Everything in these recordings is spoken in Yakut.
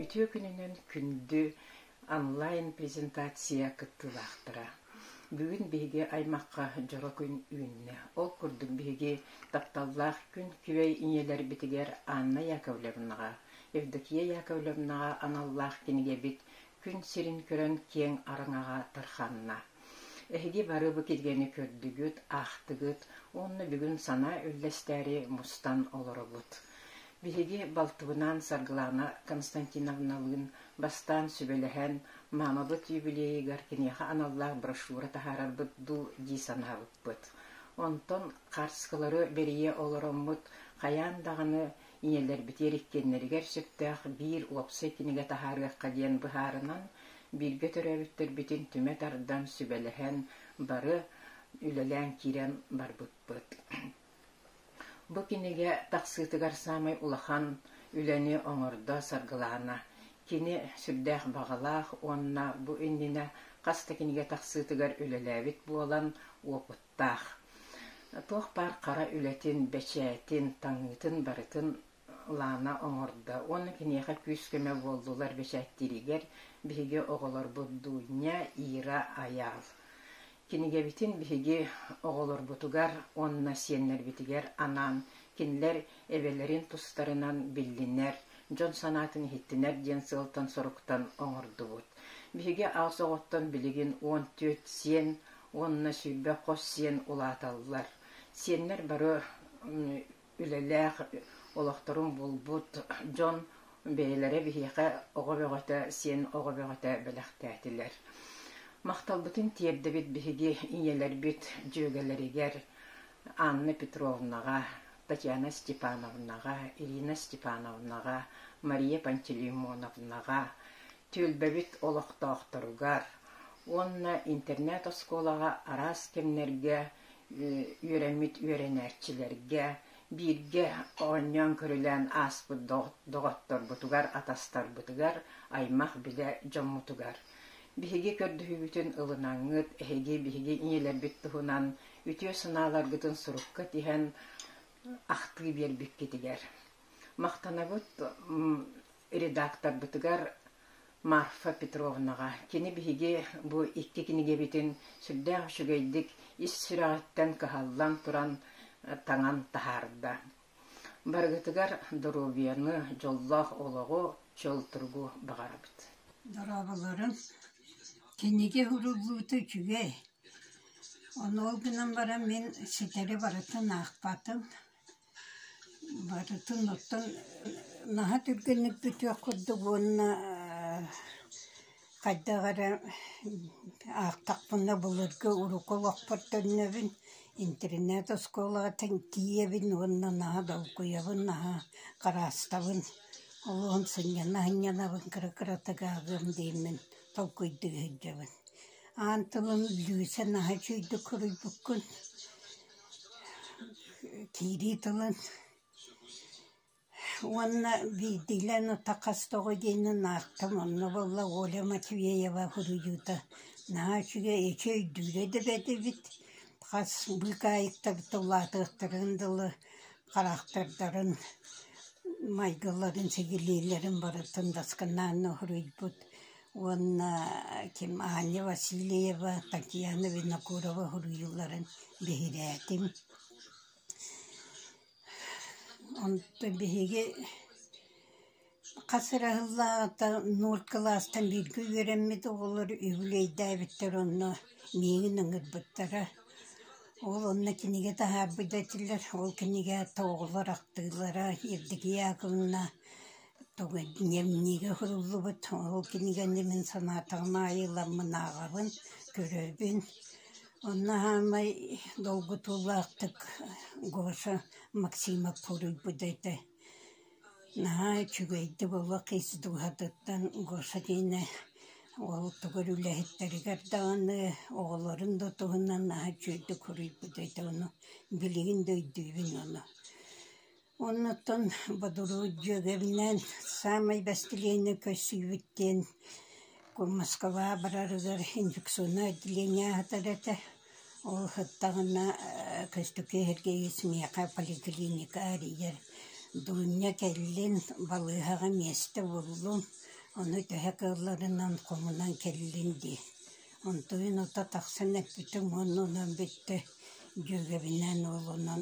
Үтүө күнүнэн күндү онлайн презентация кыттыылаахтара. Бүгүн биһиги аймахха дьоро күн үүннэ. Ол курдук биһиги тапталлаах күн күбэй ийэлэрбитигэр Анна Яковлевнаҕа, Евдокия Яковлевнаҕа аналлаах кинигэбит күн сирин көрөн киэҥ араҥаҕа тарҕанна. Эһиги бары бу киргэни көрдүгүт, аахтыгыт уонна бүгүн санаа үллэстээри мустан олоробут. Биһиги балтыбынаан Саргылаана Константиновналыын бастаан сүбэлэһэн, маамабыт юбилейыгар киниэхэ аналлаах брошюра таһаарарбыт дуу дии санаабыппыт. Онтон харскылары бэрийэ олороммут хайаан даҕаны ийэлэрбитигэр иккиэннэригэр сөптөөх биир уопсай кинигэ таһаарыахха диэн быһаарынан, бииргэ төрөөбүттэрбитин түмэ тардан, сүбэлэһэн, бары үлэлээн киирэн барбыппыт. Бу кинигэ тахсыытыгар саамай улахан үлэни оҥордо, саргылаана. Кини сүрдээх баҕалаах уонна бу иннинэ хас да кинигэ тахсыытыгар үлэлээбит буолан, уопут туохтаах, туох баар хара үлэтин, бэчээтин, таҥыытын барытын Лаана оҥордо уонна киниэхэ күүс-көмө буоллулар бэчээттииригэр биһиги оҕолорбут Дуунньа, Ира, Айаал. Кинигэбитин биһиги оҕолорбутугар уонна сиэннэрбитигэр анаан, кинилэр эбэлэрин тустарынан биллинэр, дьон санаатын иһиттинэр диэн сыалтан-соруктан оҥордубут. Биһиги аҕыс оҕоттон билигин уон түөрт сиэн уонна сүүрбэ хос сиэн улааталлар. Сиэннэр бары үлэлээх олохторун булбут дьон бэйэлэрэ биһиэхэ оҕо бөҕөтө, сиэн оҕо бөҕөтө бэлэхтээтилэр. Махталбытын тиэрдэбит биһиги ийэлэрбит дьүөгэлэригэр Анна Петровнаҕа, Татьяна Степановнаҕа, Ирина Степановнаҕа, Мария Пантелеймоновнаҕа, түөлбэбит олохтоохторугар уонна интернет-оскуолаҕа араас кэмнэргэ үөрэммит үөрэнээччилэргэ бииргэ оонньоон-көрүлээн ааспыт доҕотторбутугар, атастарбытыгар, аймах-билэ дьоммутугар. Биһиги көрдөһүүбүтүн ылынаҥҥыт, эһиги биһиги ийэлэрбит туһунан үтүө санааларгытын сурукка тиһэн, ахтыы биэрбиккитигэр. Махтанабыт редакторбытыгар Марфа Петровнаҕа. Кини биһиги бу икки кинигэбитин сүрдээх үчүгэйдик ис сүрэҕиттэн кыһаллан туран таҥан таһаарда. Барыгытыгар доруобуйаны, дьоллоох олоҕу, чөл-тургу баҕарабыт. Дорооболорум. Кинигэ урууллуута үчүгэй. Ону ол гынан баран мин ситэри барытын аахпатым. Барытын оттон наһаа түргэнник бүтүөх курдук уонна хайдах эрэ аахтахпына былыргы урукку олохпор төннөбүн, интернет-оскуолаҕа тиийэбин уонна наһаа долгуйабын, наһаа хараастабын, олоҕум сынньана-сынньанабын, кыра-кыра тыгааҕыам дииммин толкуйдуу сылдьабын. Аан тылым Лүүсэ наһаа үчүгэйдик суруйбуккун Киирии тылын уонна биирдиилээн ата хас тоҕо диэҥҥин ааттам онно буолла Оля Матвеева суруйуута наһаа үчүгэй эчи өйдүүрэ да бэрт эбит хас быыкаайыктарыттан улаатыахтарын дылы харахтардарын майгыларын сигилиилэрин барытын даскынаанна суруйбут уонна ким Аня Васильева, Татьяна Винокурова суруйууларын биһирээтим. Онтон биһиги хас эрэ сыллааҕыта нуур кылаастан бииргэ үөрэммит оҕолор үбүлүөйдээбиттэр онно миигин ыҥырбыттара. Ол онно кинигэ таһаарбыт этилэр, ол кинигэ тоҕолор ахтыылара Евдокия Яковлевна Тугу эдьиийэм миниигэ суруллубут, ол кинигэни мин санаатаҕым аайы ыламмын ааҕабын, көрөбүн. Онно саамай долгутуулаахтык Гоша Максимов суруйбута этэ. Наһаа үчүгэйдик олох ис дууһатыттан Гоша диэни ол тугу үлэһиттэригэр даҕаны, оҕолорун да туһунан наһаа үчүгэйдик суруйбута этэ. Ону билигин да өйдүүбүн ону. Оннуттан Бодуруу дьүөгэбинээн саамай бэстилиэнньэ көрсүбүт диэн Москваҕа барарыгар инфекционнай отделение аһатар этэ. Ол ыһыктаҕына көстүкү эһэргэһиис миэхэ поликлиника арыйар. Дурня кэллин, балыыһаҕа миэстэ буллум, ону төһө кыалларынан хомунан кэллин дии. Онтуйун ута тахсан эппитим уонна онон бүттэ дьүөгэбинээн уолунан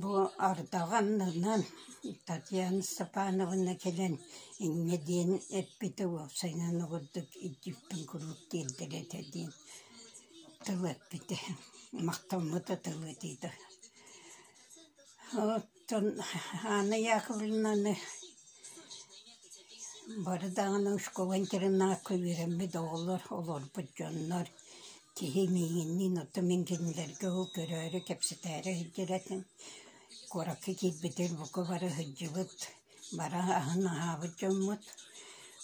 Бу Ардаҕанынан Татьяна Степановна кэлэн инньэ диэн эппитэ уопсайынан обурдук Индийпин куруук тиэрдэр этэ диэн тыл эппитэ махтаммыта тыл этиитэ оттон Анна Яковлевнаны бары даҕаны школа интернакка үөрэммит оҕолор олорбут дьоннор Киһи миигинниин оттон мин кинилэргэ ол көрөөрү кэпсэтээри сылдьар этим. Куоракка киирбитин бука бары сылдьыбыт, бары аһын аһаабыт дьоммут.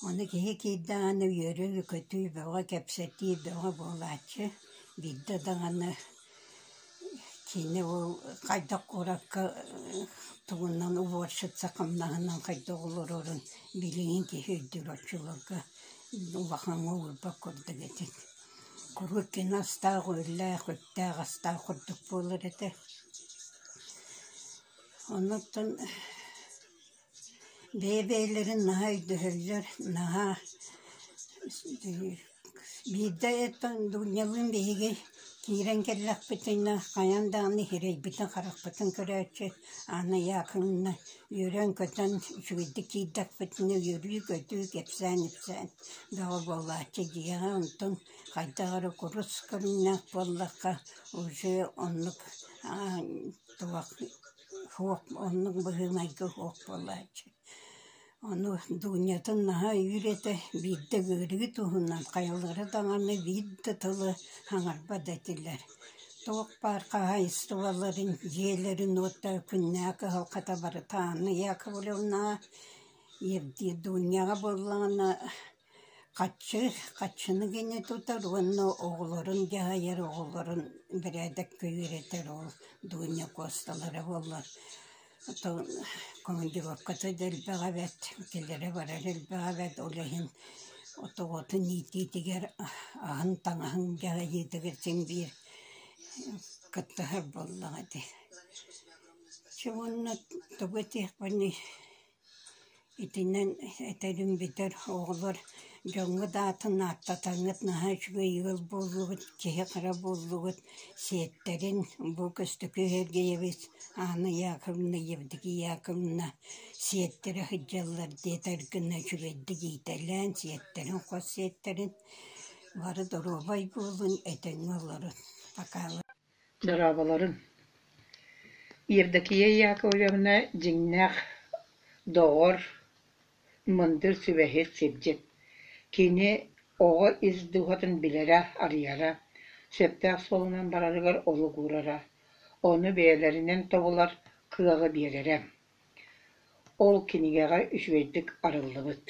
Ону киһи киирдэ даҕаны үөрүү-көтүү, бөҕө-кэпсэтии, бөҕө буолааччы. Биирдэ даҕаны кини ол хайдах куоракка тугунан уборщица хамнаһынан хайдах олорорун билигин киһи өйдүүр оччолорго улахаҥҥа уурбат курдук этит Курыкин астаах-үөллээх, үптээх-астаах курдук буолар этэ. Оннуттан бэйэ-бэйэлэрин наһаа өйдөһөллөр, наһаа биирдэ Дуунньалыын биһиги киирэн кэллэхпитинэ хайаан даҕаны иһирэйбитин, харахпытын көрөөччү Аана Яковлевна Үөрэн-көтөн үчүгэйдик киирдэхпитинэ үөрүү-көтүү, кэпсээн-ипсээн бөҕө буолааччы, дьиэҕэ онтун хайдах эрэ курус көрүҥнээх буоллахха уже оннук суох оннук быһыылайга суох буолааччы. Ону Дуунньатын наһаа өйүүр этэ, биирдэ ыарыы туһунан хайалара даҕаны биир да тылы хаҥарбат этилэр Туох баар хаһаайыстыбаларын, дьиэлэрин уота, күннээх кыһалҕата барыта Анна Яковлевнаҕа, Евдия Дуняҕа буоллаҕына хаччы, хаччыны гини тутар уонна оҕолорун дьаһайар, оҕолорун бэрээдэккэ үөрэтэр ол Дуня Косталара буоллар командировката да элбэх эбээт, кэлэрэ барара элбэх эбээт, ол иһин отоҕотун иитиитигэр аһын-таҥаһын дьаһайыытыгар син биир кыттыһар буоллаҕа дии. Чэ уонна тугу этиэхпиний Итинэн этэрим бүтэр, оҕолор дьоҥҥут аатын ааттатаҥҥыт наһаа үчүгэй ыал буоллугут, киһи хара буоллугут, сиэттэрин бу Көстөкө Сергеевич Анна Яковлевна Евдокия Яковлевна сиэттэрэ сылдьаллар диэтэр гына үчүгэйдик иитэлээн, сиэттэрин, хос сиэттэрин бары доруобай буолун, этэҥҥэ олорун. Пока Дьараабаларын Евдокия Яковлевна дьиҥнээх доҕор, мындыр сүбэһит сирдьит, кини оҕо ис дууһатын билэрэ-арыйара, сөптөөх суолунан барарыгар олук уурара, ону бэйэлэринэн тобулар кыаҕы биэрэрэ. Ол кинигэҕэ үчүгэйдик арыллыбыт.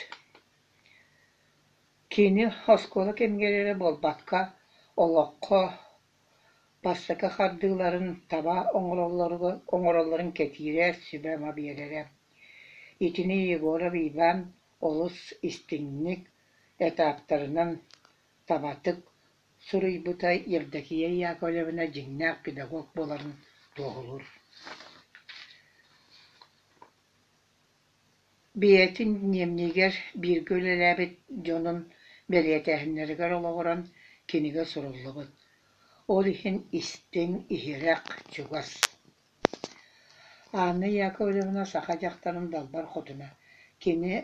Кини оскуола кэмигэр эрэ буолбакка, олоххо Бастакы хардыыларын таба оҥороллоругар оҥороллорун кэтиирэ, сүбэ-ама биэрэрэ. Итини Егоров Иван олус истиҥник, этаптарынан табатык суруйбута Евдокия Яковлевна дьиҥнээх педагог буоларын туоһулуур Бэйэтин Ньиэмньигэр бииргэ үлэлээбит дьонун бэлиэтээһиннэригэр олоҕуран кинигэ суруллубут, ол иһин истиҥ, иһирэх, чугас. Анна Яковлевна саха дьахтарын далбар хотуна, кини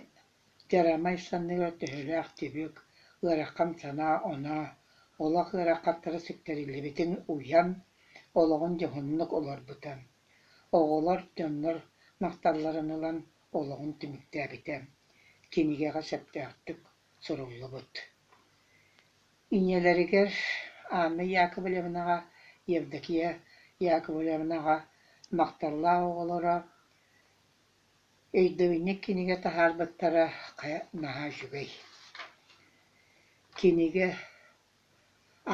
дьарамай санныгар төһөлөөх түбүк, ыарахан санаа-оноо, олох ыарахаттара сүктэриллибитин уйан, олоҕун дьоһуннук олорбута. Оҕолор, дьоннор махталларын ылан олоҕун түмүктээбитэ, кинигэҕэ сөптөөхтүк суруллубут. Ийэлэригэр Анна Яковлевнаҕа, Евдокия Яковлевнаҕа махталлаах оҕолоро өйдөбүнньүк кинигэ таһаарбыттара хайа наһаа үчүгэй. Кинигэ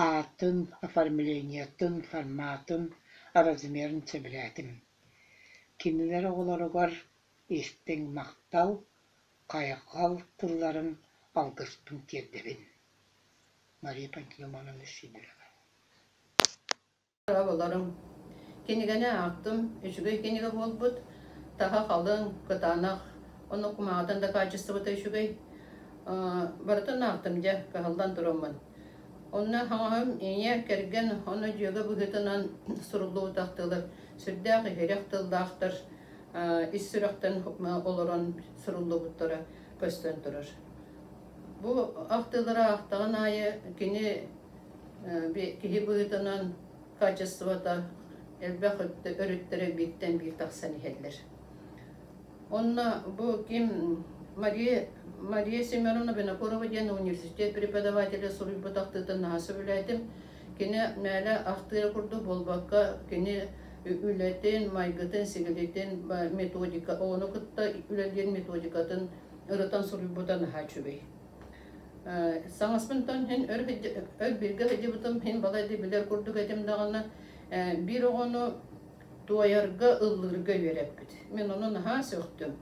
Аатын, оформлениетын, форматын, размерын сөбүлээтим. Кинилэр оҕолоругар истиҥ махтал, хайҕал тылларын алгыспын тиэрдэбин. Мария Пантелеймоновна Сидорова Оболорум. Кинигэни аахтым, үчүгэй кинигэ буолбут. Таһа халыҥ, кытаанах, ону кумаҕатан дакаачыстыбыта үчүгэй. Барытын аахтым дьэ, кыһаллан туруоммун. Онно хаҥаһым ийэ кэргэн ону дьүөгэ быһыытынан суруллубут ахтыылар сүрдээх иһирэх тыллаахтар ис сүрэхтэн олорон суруллубуттара көстөн турар. Бу ахтыылары аахтаҕын аайы кини киһи быһыытынан качествота элбэх өрүттэр бииртэн биир тахсан иһэллэр. Онно бу ким Мария Мария Семеновна Винокурова диэн университет преподавателя суруйбут ахтыытын наһаа сөбүлээтим. Кини мээлэ ахтыыра курдук буолбакка, кини үлэтин, майгытын, сигилитин, методика, ону кытта үлэлиир методикатын ырытан суруйбута наһаа үчүгэй. Саҥаспынтан һин өр өр биргэ һыдьыбытым һин балайда билэр курдук этим даҕана биир оҕону туойарга, ыллыырга үөрэппит. Мин ону наһаа сөхтүм.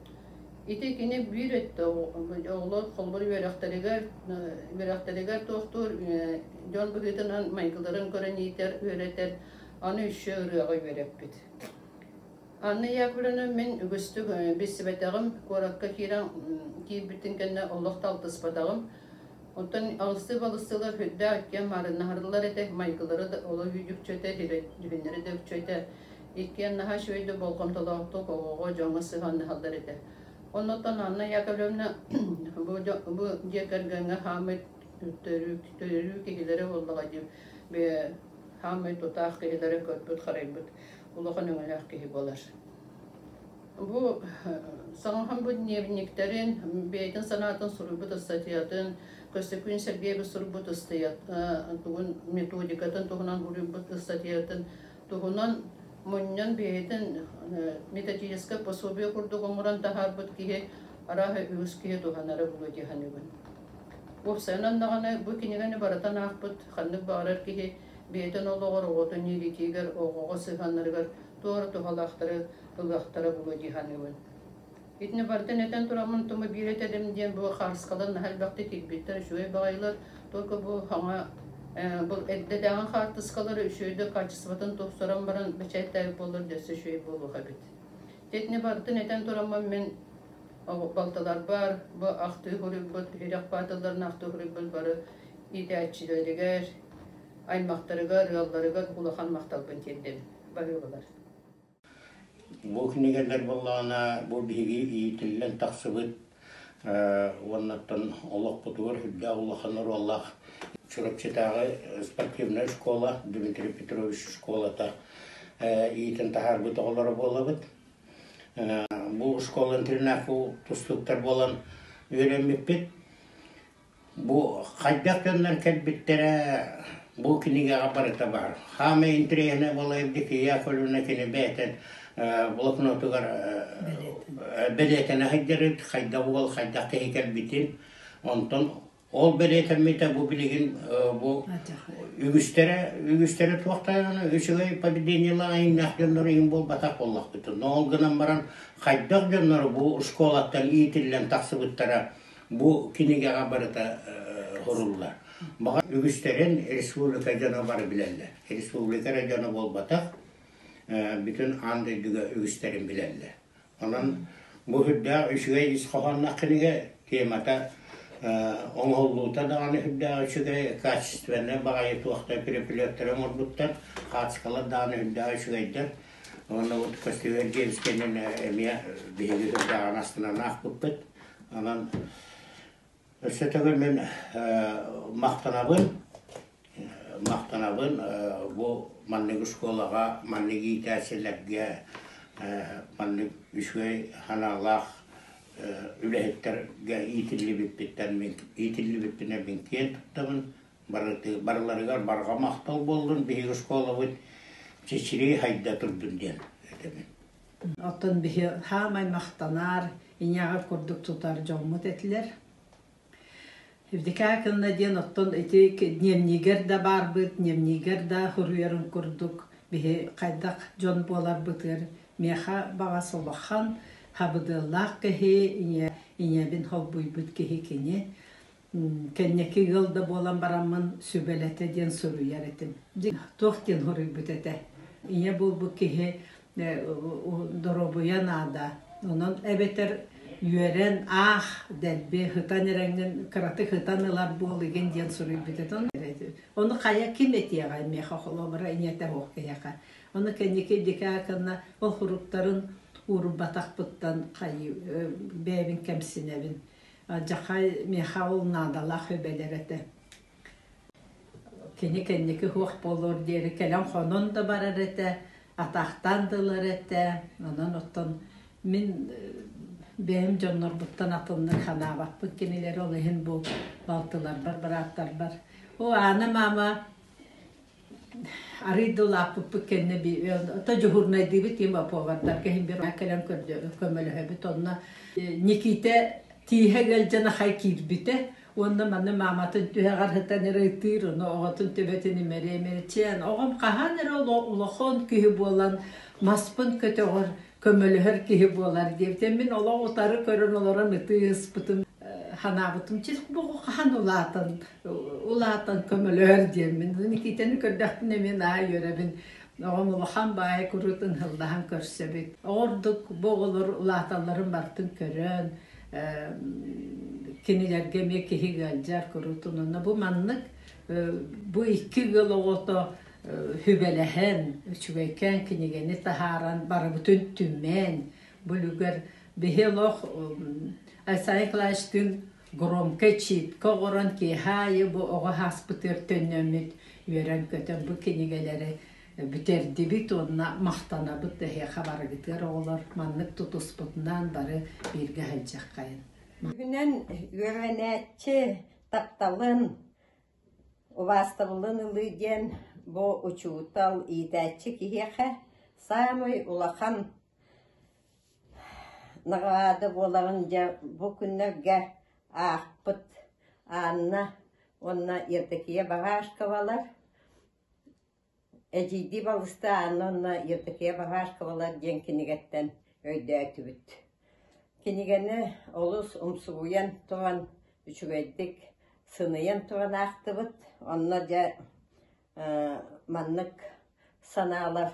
Ити кини биир өттө оҕолор холбор үөрэхтэригэр үөрэхтэригэр туохтуур дьон быһыытынан майгыларын көрөн иитэр, үөрэтэр, аны өссө ырыаҕа үөрэппит. Анна Яковлевна мин үгүстүк билсибэтэҕим, куоракка киирэн киирбитин кэннэ олох да алтыспатаҕым. Оттон алыстыы-балыстыылар үрдээх кэм маарыннаһарылар этэ, майгылара да олох үүтүкчэ этэ, дьүһүннэрэ да үкчэ этэ. Иккиэн наһаа үчүгэй да болҕомтолоохтук оҕоҕо, дьоҥҥо сыһыаннаһаллар этэ. Оннуттан Анна Яковлевна бу дьиэ кэргэҥҥэ хаамай төрүү киһилэрэ буоллаҕа дии, хаамай тутаах киһилэрэ көрбүт-харайбыт. улахан өҥөлөөх киһи буолар. Бу саҥахан бу дневниктэрин, бэйэтин санаатын суруйбут ыстатыйатын, Көстөкүүн Сергеева суруйбут ыстатыйатын, тугун методикатын туһунан уруйбут ыстатыйатын туһунан мунньан бэйэтин методическай пособие курдук оҥорон таһаарбыт киһи арааһа үгүс киһи туһанара буолуо диэхэнибин. Уопсайынан даҕаны бу кинигэни барытан аахпыт ханнык баҕарар киһи бэйэтин олоҕор оҕотун иитиигэр, оҕоҕо сыһыаннарыгар туора туһалаахтары ылыахтара буолуо дии саныыбын. Итини барытын этэн тураммын тума биир этэрим диэн бу харыскалар наһаа элбэхтик тикпиттэр үчүгэй баҕайылар только бу хаҥа бұл эрдэтээҕи хаартыскалары үчүөйдүк качествотын тупсаран баран бэчээттээбит буолар дөссө үчүгэй буолуох эбит тэтини барытын этэн тураммын мен балталарбар бу ахтыы хуруйбут ирэх баатылларын ахтыы хуруйбут бары иитээччилэригэр, аймахтарыгар, ыалларыгар улахан махталбын тиэрдэбин. Барылылар. Бу кинигэлэр буоллаҕына, бу биһиги иитиллэн тахсыбыт уоннаттан олохпутугар үрдээх улахан оруоллаах Чурапчытааҕы спортивная школа Дмитрий Петрович школата иитин таһаарбыт оҕолоро буолабыт. Бу школа-интернат тустууктар буолан үөрэммиппит. Бу хайдах дьоннор кэлбиттэрэ бу кинигэҕэ барыта баар. Хаамай интриэһинэбэла Евдокия Яковлевна кини бэйэтин э, блокнотугар э, бэлиэтэнэ сылдьарыт, хайдах уол хайдах киһи кэлбитин. Онтон ол бэлиэтэммитэ бу билигин э, бу үгүстэрэ үгүстэрэ туохтайана үчүгэй поведениела айыннаах дьоннору иһин буолбатах буоллахпыт. Но ол гынан баран хайдах дьоннору бу школаттан иитиллэн тахсыбыттара бу кинигэҕэ барыта хоруллар. Баҕа үгүстэрин республика дьоно бары билэллэр. Республика эрэ дьоно буолбатах, бүтүн аан дойдуга үгүстэрин билэллэр. Онон бу үрдээх үчүгэй ис хоһоонноох кинигэ темата оҥоһуллуута даҕаны үрдээх үчүгэй, качественнай баҕайы туохта переплеттэрэ оҥорбуттар, хаачкалар даҕаны үрдээх үчүгэйдэр. Уонна бу көстүүлэр гиэнскэнин эмиэ биһиги дырдааҕын астынан аахпыппыт. Онон өссө төгүл мин махтанабын махтанабын бу маннык школаҕа маннык иитээччилэргэ маннык үчүгэй ханаалаах үлэһиттэргэ иитиллибиппиттэн иитиллибиппинэн мин киэн туттабын барыларыгар барҕа махтал буоллун биһиги школабыт чичирии хайда турдун диэн этэбин. Оттон биһи хаамай махтанар, иняҕар курдук тутар дьоммут этилэр. Евдикаа кынна диэн оттон ити дневнигер да баарбыт, дневнигер да хуруйарын курдук биһи хайдах дьон буоларбытыгар миэха баҕа солохан хабыдыаллаах киһи, ийэбин холбуйбут киһи кини кэнньэки ыал да буолан бараммын сүбэлэтэ диэн суруйар этим. Туох диэн хоруйбут этэ? Ийэ буолбут киһи доруобуйа наада. Онон эбэтэр үөрэн аах дэлби һытан эрэҥҥин кыратык һытан ылар буол игин диэн суруйбут этэ. Ону хайа ким этиэҕэ миэхэ холобура ийэтэ оһох киһиэхэ. Ону кэнники дикэ акынна ол хуруктарын уурубатахпыттан хайы бэйэбин кэмсинэбин. Дьахай миэхэ ол наадалаах үбэлэр этэ. Кини кэнники суох буолуор диэри кэлэн хонон да барар этэ, атаахтаан да ылар этэ. Онон оттон мин бэйэм дьоннорбуттан атыннык санаабаппын кинилэри ол иһин бу балтыларбар бырааттарбар О, Аана маама, арыый да улааппыппыт кэннэ то дежурнайдыыбыт тиим оповардарга иһин бир кэлэн көрдө көмөлөһөбүт онно Никита тииһэ ыалдьан ахай киирбитэ уонна манна мааматын түһэҕэр сытан ырыйтыыр ону оҕотун төбөтүн имэрэ имэрчээн оҕом хаһан эрэ улахон киһи буолан маспын көтөҕөр көмөлөһөр киһи буолар диэбитэ мин олох утары көрөн олорон ытыы ыспытым санаабытым чис бу хаһан улаатан улаатан көмөлөһөр диэммин Никитаны көрдөхпүнэ мин аа үөрэбин оҕом улахан баай курутун һыллаһан көрсөбүт ордук бу оҕолор улааталларын бартын көрөн кинилэргэ эмиэ киһи ыалдьар курутун онно бу маннык бу икки ыал оҕото сүбэлэһэн үчүгэйкээн кинигэни таһааран барыбытын түмэн бүлүгэр биһи олох Айсай Клаштыын громкай чиипкэ оҕорон киэһэ аайы бу оҕо ааспытыгар төннөммүт үөрэн-көтөн бу кинигэлэри бүтэрдибит уонна махтанабыт эһиэхэ барыгытыгар оҕолор маннык тутуспутунан бары бииргэ сылдьыаххайын бүгүнэн үөрэнээччи тапталын убаастабылын ылыы диэн бу учуутал иитээччи киһиэхэ саамай улахан Наҕараада буоларын дьэ бу күннэргэ аахпыт Анна уонна Евдокия Багашковалар, эдьиийдии балыстай Анна уонна Евдокия Багашковалар диэн кинигэттэн өйдөөтүбүт. Кинигэни олус умсугуйан туран, үчүгэйдик сыныйан туран аахтыбыт. Онно дьэ маннык санаалар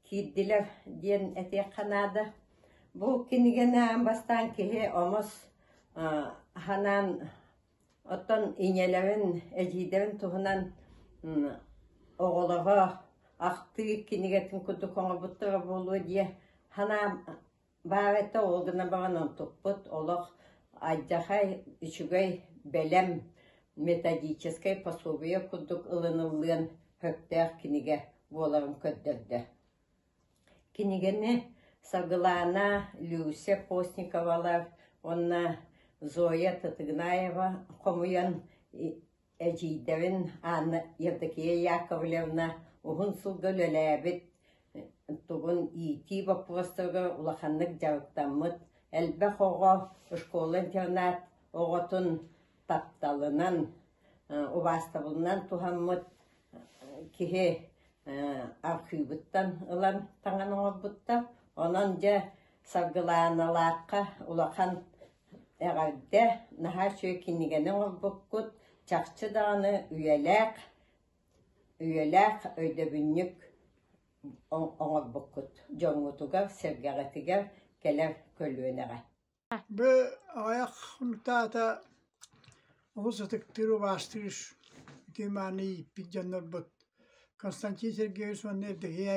киирдилэр диэн этиэххэ наада. Бу кинигэни бастаан киһи омос санаан оттон ийэлэрин, эдьиийдэрин туһунан оҕолоро ахтыы кинигэтин курдук оҥорбуттара буолуо дии санаам Баабатта ол гына баҕан онтукпут олох алдьархай, үчүгэй, бэлэм, методическай пособие курдук ылыныллыан сөптөөх кинигэ буоларын көрдөрдө. Кинигэни Саргылаана Люся Постниковалар уонна Зоя Татыгнаева хомуйан Эдьиийдэбин Анна Евдокия Яковлевна уһун сылга үлэлээбит, тугун иитии боппуруостарга улаханнык дьарыктаммыт, элбэх оҕо школа-интернат оҕотун тапталынан, убаастабылынан туһаммыт киһи архыыбыттан ылан таҥан оҥорбуттар. Онон дьэ Саргылааналаахха улахан Эҕэрдэ, наһаа үчүгэй кинигэни оҥорбуккут, чахчы даҕаны үйэлээх, үйэлээх өйдөбүнньүк оҥорбуккут дьоҥҥутугар, сэргэҕитигэр кэлэр көлүөнэҕэ. Бу аҕыйах хонук аата олус ытыктыыр, убаастыыр итии мааны ииппит дьоннорбут Константин Сергеевич уонна Евдокия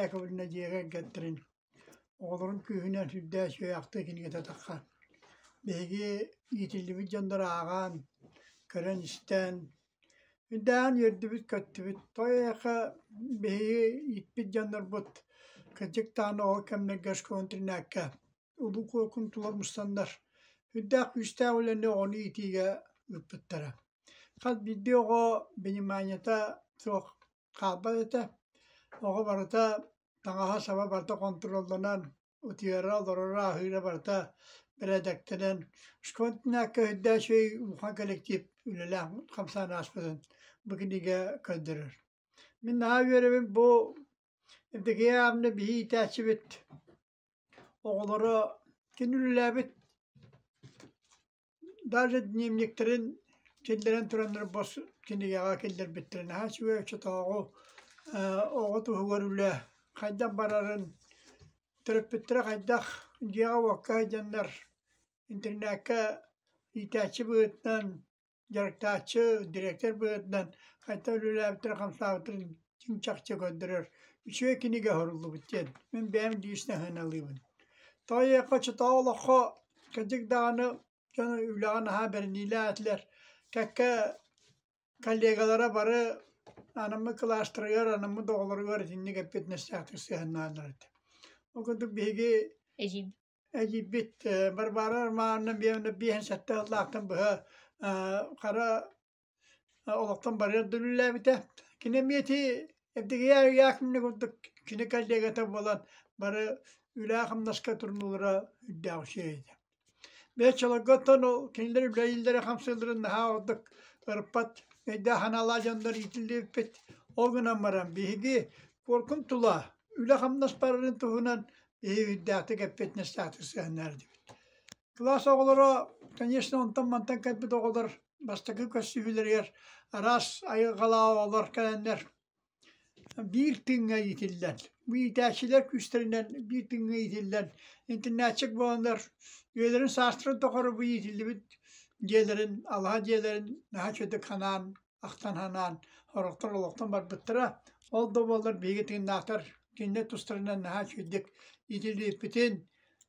Яковлевна дьиэ кэргэттэрин Оҕолорун күүһүнэн сүрдээх үчүгэйхтик кинигэтэтэххэ, биһиги иитиллибит дьоннору ааҕан, көрөн-истэн, үрдээн үөрдүбүт-көттүбүт, той эйиэхэ биһиги иитпит дьоннорбут, кырдьык даҕаны оҕо кэмнэргэ школа-интернакка улуу куукун тулар мустаннар, үрдээх күүстээх үлэни оҕону иитиигэ ыыппыттара. Хас биирдии оҕо пониманията суох хаалбат этэ. Оҕо барыта таҥаһа-саба барыта хонтуруолланан, утуйара, олороро, аһыыра барыта бэрээдэктэнэн, шконтинакка өйдөөх өй улахан коллектив үлэлээх хамсаан ааспытын бу кинигэ көрдөрөр. Мин наһаа үөрэбин бу Эдэгия аамны биһи иитээччибит оҕолоро кини үлэлээбит Даже дневниктэрин киллэрэн тураннар бос кинигэҕэ киллэрбиттэрэ наһаа үчүгэй оччотооҕу ээ оҕо туһугар үлэ хайдах барарын төрөппүттэрэ хайдах дьиэҕэ-уокка сылдьаннар интернеккэ иитээччи быһыытынан дьарыктааччы, дириэктэр быһыытынан хайдах үлэлээбиттэрэ хамсаабыттарын ким чахчы көрдөрөр үчүгэй кинигэ суруллубут диэн мин бэйэм лично сыаналыыбын тоойуохха чотоо олоххо кырдьык даҕаны дьону үлэҕэ наһаа бэриниилээтилэр кэккэ коллегалара бары анаммыт кылаастарыгар анаммыт оҕолоругар итинник эппиэтинэстээхтик сыһыаннааллар этэ ол курдук биһиги эдьийбит Барбара Романовна биэһин сэттээх ыллаахтан быһа хара олохтон барыар да үлэлээбитэ. Кини эмиэти эрдигийэ курдук кини коллегата буолан бары үлэ-хамнаска турнулара үрдээх үчүгэй этэ. Бэччолорготтон кинилэр үлэлииллэрэ хамсыылларын наһаа ордук ырпат, өйдөөх санаалаах дьоннор иитиллибиппит. Ол гынан баран биһиги куоркун тула үлэ-хамнас барарын туһунан биһи үрдээхтик эппит, нэстээхтик сыһаннардыбыт. Кылаас оҕолоро, конечно, онтон-мантан кэлбит оҕолор бастакы көрсүһүүлэригэр араас айылҕалаах оҕолор кэлэннэр биир тыыҥҥа иитиллэн, бу иитээччилэр күүстэринэн биир тыыҥҥа иитиллэн, интернетчик буоланнар үйэлэрин саастарын тухары бу иитиллибит дьиэлэрин, алаһа дьиэлэрин наһаа үчүгэй ханаан ахтан санаан сорохтор олохтон барбыттара. Ол да буоллар биһиги тыыннаахтар кинилэр тустарынан наһаа үчүгдүк итилиирпитин,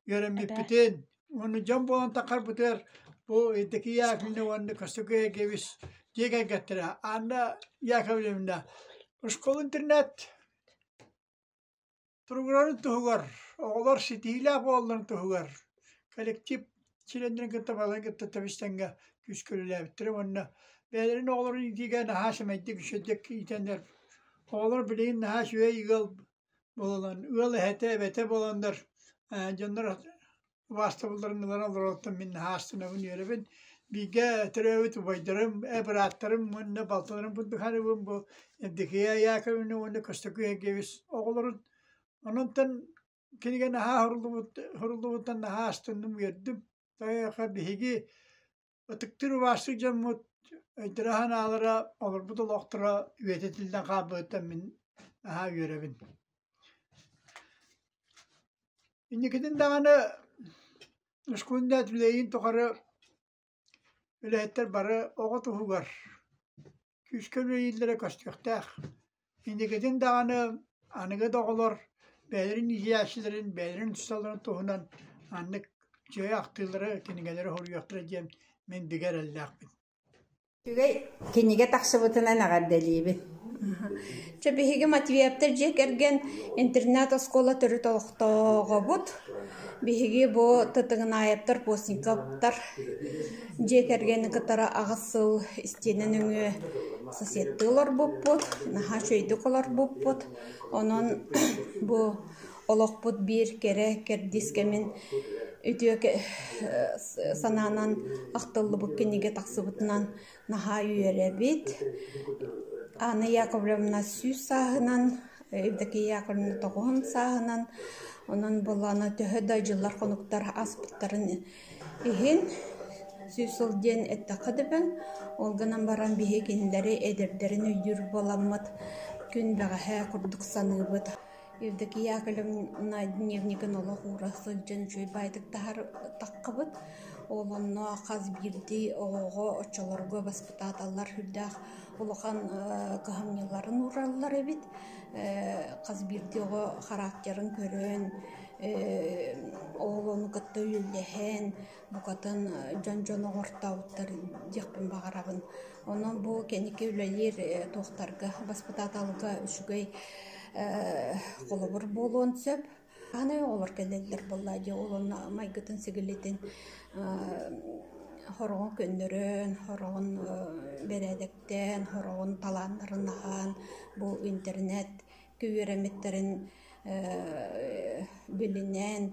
үөрэммиппитин, уонна дьон буолан тахарбытыгар бу Евдокия Яковлевна уонна Костюкая Гевис дьиэ кэргэттэрэ Анна Яковлевна, школа-интернат туругурарын туһугар, оҕолор ситиилээх буолларын туһугар коллектив чилиэннэрин кытта балан кытта тэбистэнгэ күүскэ үлэлээбиттэрэ уонна бэйэлэрин оҕолорун иитиигэ наһаа сэмэйдик үчүгэйдик иитэннэр оҕолор билигин наһаа үчүгэй ыал буолан ыал эһэтэ эбэтэ буоланнар дьоннор убаастабылларын ылан олорортон мин наһаастанабын үөрэбин бииргэ төрөөбүт убайдарым э бырааттарым уонна балтыларым бundukhanыбын бу Евдокия Яковлевна уонна Костакый Эгевис оҕолорун ононтон кинигэ наһаа хоруллубут хоруллубуттан наһаа астынным үөрдүм тоойоко биһиги Ытыктыыр убаастык дьоммут өйдөрө санаалара, олорбут олохторо үйэтитиллэн хаалбыттан мин наһаа үөрэбин. Инникитин даҕаны Ускуунда түлэйин тухары үлэһиттэр бары оҕо туһугар күүскэ үлэлииллэрэ көстүөхтээх. Инникитин даҕаны аныгы да оҕолор бэйэлэрин иһийээччилэрин, бэйэлэрин усталарын туһунан маннык дьиэ ахтыылары, кинигэлэри хоруйуохтара диэн мин бигэ эрэллээхпин. Үчүгэй кинигэ тахсыбытынан эҕэрдэлиибин. Чэ биһиги Матвеевтар дьиэ кэргэн интернат-оскуола төрүт олохтооҕобут. Биһиги бу Тытыгынаевтар, Постниковтар Дьиэ кэргэни кытары аҕыс сыл истиэнэ нөҥүө соседтыы олорбуппут, наһаа үчүгэйдик олорбуппут. Онон бу олохпут биир кэрэ кэрдиис кэмин үтүө санаанан ахтыллыбыт кинигэ тахсыбытынан наһаа үөрэбит. Анна Яковлевна сүүс сааһынан, Евдокия Яковлевна тоҕуһун сааһынан, онон буоллаана төһө да дьыллар-хонуктар ааспыттарын Иһин сүүс сыл диэн эттэххэ да эбэн, ол гынан баран биһикилэри эдэрдэрин өйдүүр буоламмыт, күн бэҕэһээ курдук саныыбыт. Евдокия Яковлевна дневнигин олох уура сылдьан үчүгэй баайдык таһаартаххыбыт. Ол онно хас биирдии оҕоҕо, оччолорго баспытааталлар сүрдээх улахан кыһамньыларын уураллар эбит. Хас биирдии оҕо характерын көрөн, Оҕолору кытта үллэһэн, букатын дьон дьону оҥортообуттар диэхпин баҕарабын. Онон бу кэнники үлэлиир туохтарга, баспытааталга үчүгэй холобур буолуон сөп. Аны оҕолор кэлэллэр буоллаа дии оҕолорун майгытын сигилитин хороҕун көннөрөн, хороҕун бэрээдэктээн, хороҕун талааннарын аһаан бу интернет үөрэммиттэрин билинэн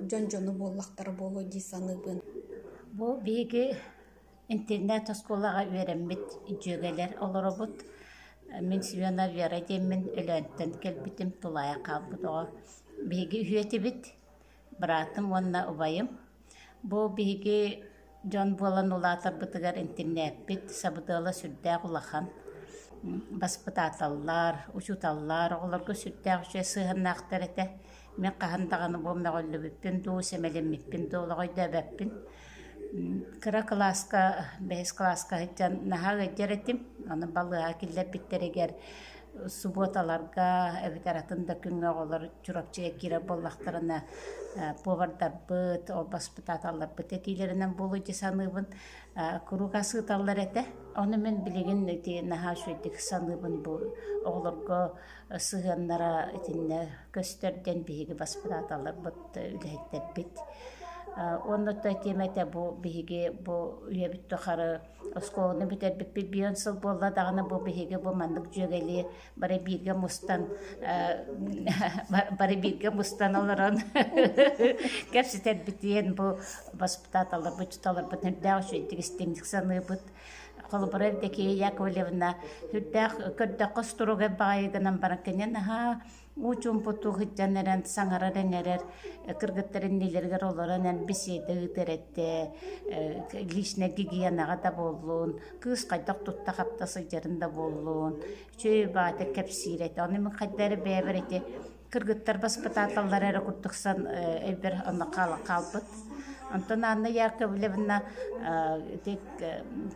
дьон дьону буоллахтара буолуо дии саныыбын. Бу биһиги интернет-оскуолаҕа үөрэммит дьүөгэлэр олоробут. Мин Семена Вера диэммин Өлөөнтөн кэлбитим, тулаайах хаалбыт оҕо. Биһиги үһүөтүбүт. быраатым уонна убайым. Бу биһиги дьон буолан улаатарбытыгар интернетпит сабыдыала сүрдээх улахан. Баспытааталлар, учууталлар оҕолорго сүрдээх үчүгэй сыһыаннаахтар этэ. Мен хаһан даҕаны бу мөҕүллүбүппүн дуу, сэмэлиммиппин дуу олоҕойдөөбөппүн. Кыра кылааска, бэһис кылааска сылдьан наһаа ыалдьар этим. Аны балыыһа киллэрбиттэригэр субуоталарга эбэтэр атын да күҥҥэ оҕолор Чурапчы киирэр буоллахтарына повардарбыт, орбаспытааталларбыт этиилэринэн буолуо дии саныыбын. Куруук асыыталлар этэ. Ону мин билигин ити наһаа үчүгэйдик саныыбын бу оҕолорго сыһыаннара итиннэ көстөр диэн биһиги баспытааталларбыт үлэһиттэрбит Уонна то тиэмэ этэ бу биһиги бу үйэбит тухары оскуоланы бүтэрбиппит бион сыл буолла даҕаны бу биһиги бу маннык дьүөгэлии бары бииргэ мустан бары бииргэ мустан олорон кэпсэтэрбит диэн бу воспитателларбыт учуталларбыт үрдээх үчүгэйдик истиҥник саныыбыт холобура Евдокия Яковлевна үрдээх көрдөххө струга баайы гынан баран кэнен аhaa уучумпуту хыттан эрэн саҥарар эҥэрэр кыргыттарын нилэригэр олорон эн беседа ыытар этэ личнэй гигиенаҕа да буоллун кыыс хайдах тутта-хапта сылдьарын да буоллун, үчүгэй убаата кэпсиир этэ. Ону мин хайда эрэ бэйэбэр ити кыргыттар баспытааталлара эрэ курдук сан өйбөр онно хаалбыт. Онтон Анна Яковлевна ити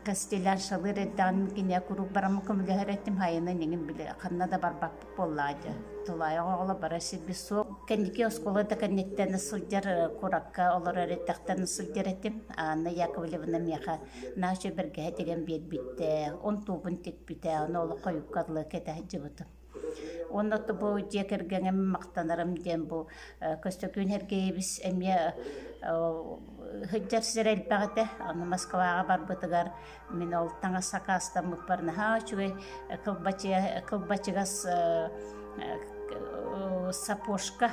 костеляр шалыр эрдэҕин кине куруук бараммын көмөлөһөр этим хайынан эҥин били ханна да барбаппын буоллаадьа тулаайах оҕоло бара сирбит суох кэнники оскуола да кэнниттэн сылдьар куракка олорор эттэхтэн сылдьар этим Анна Яковлевна миэхэ наша бэргэһэ тигэн биэрбиттэ он туубун тикпитэ ону ол хойукка алы кэтэ сылдьыбытым Онно бу дьиэ кэргэҥем мақтанарым диэн бу Көстөкүүн Сергеевич эмиэ сир элбэҕитэ аны Москваҕа барбытыгар Мин ол таҥас сакаастаммыппар наһаа үчүгэй кылбачыга кылбачыгас сапожка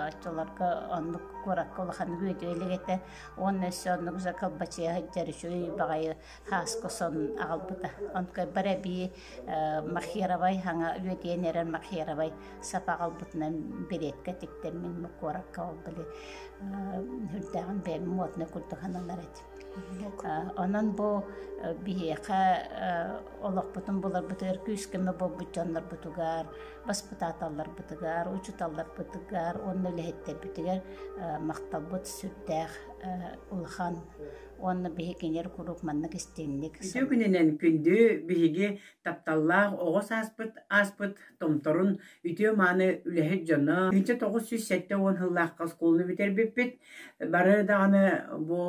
оччолорго оннук куоракка улаханнык үөдүө илик этэ уонна өссө оннук за кылбачыга сылдьар үчүгэй баҕайы хааска сонун аҕалбыта онкуйбар эбии махировай хаҥа үөдүйэн эрэр махировай сапа аҕалбытынан беретка тиктэн мин куоракка ол били үрдээҕин бэйэм модный курдук сананар этим Онон бу биһиэхэ олохпутун буларбытыгар күүс-көмө буолбут дьоннорбутугар, баспытааталларбытыгар, учууталларбытыгар уонна үлэһиттэрбитигэр махталбыт сүрдээх улахан уонна биһикилэр куруук маннык истиҥник Үтүө күнүнэн күндү биһиги тапталлаах оҕо сааспыт ааспыт томторун үтүө-мааны үлэһит дьоно итинчэ тоҕус сүүс сэттэ уон сыллаахха оскуоланы бүтэрбиппит бары даҕаны бу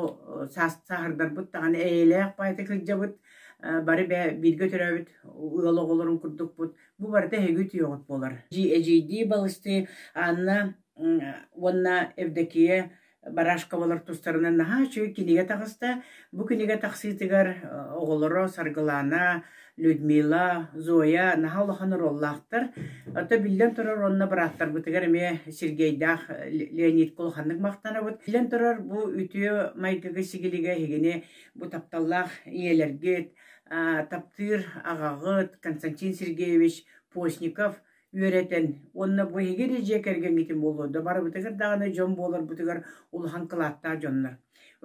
саахардарбыт даҕаны эйэлээх баайта кырдьабыт бары бэ бииргэ төрөөбүт ыал оҕолорун курдукпут бу барыта эһиги үтүөҕүт буолар эдьиийдии балыстыы Анна уонна Евдокия Барашковолар тустарынан наһаа үчүгэй кинигэ таҕыста. Бу кинигэ тахсыытыгар оҕолоро Саргылаана, Людмила, Зоя наһаа улахан оруоллаахтар. Оттон биллэн турар уонна бырааттарбытыгар эмиэ Сергейдаах Леонидка улаханнык махтанабыт. Биллэн турар бу үтүө майгыга-сигилигэ иһигини бу тапталлаах ийэлэргит, таптыыр аҕаҕыт Константин Сергеевич Постников үөрэтэн уонна бу эһиги эридьиэ кэргэҥҥитин буолуо да барыбытыгар даҕаны дьон буоларбытыгар улахан кылааттаах дьоннор.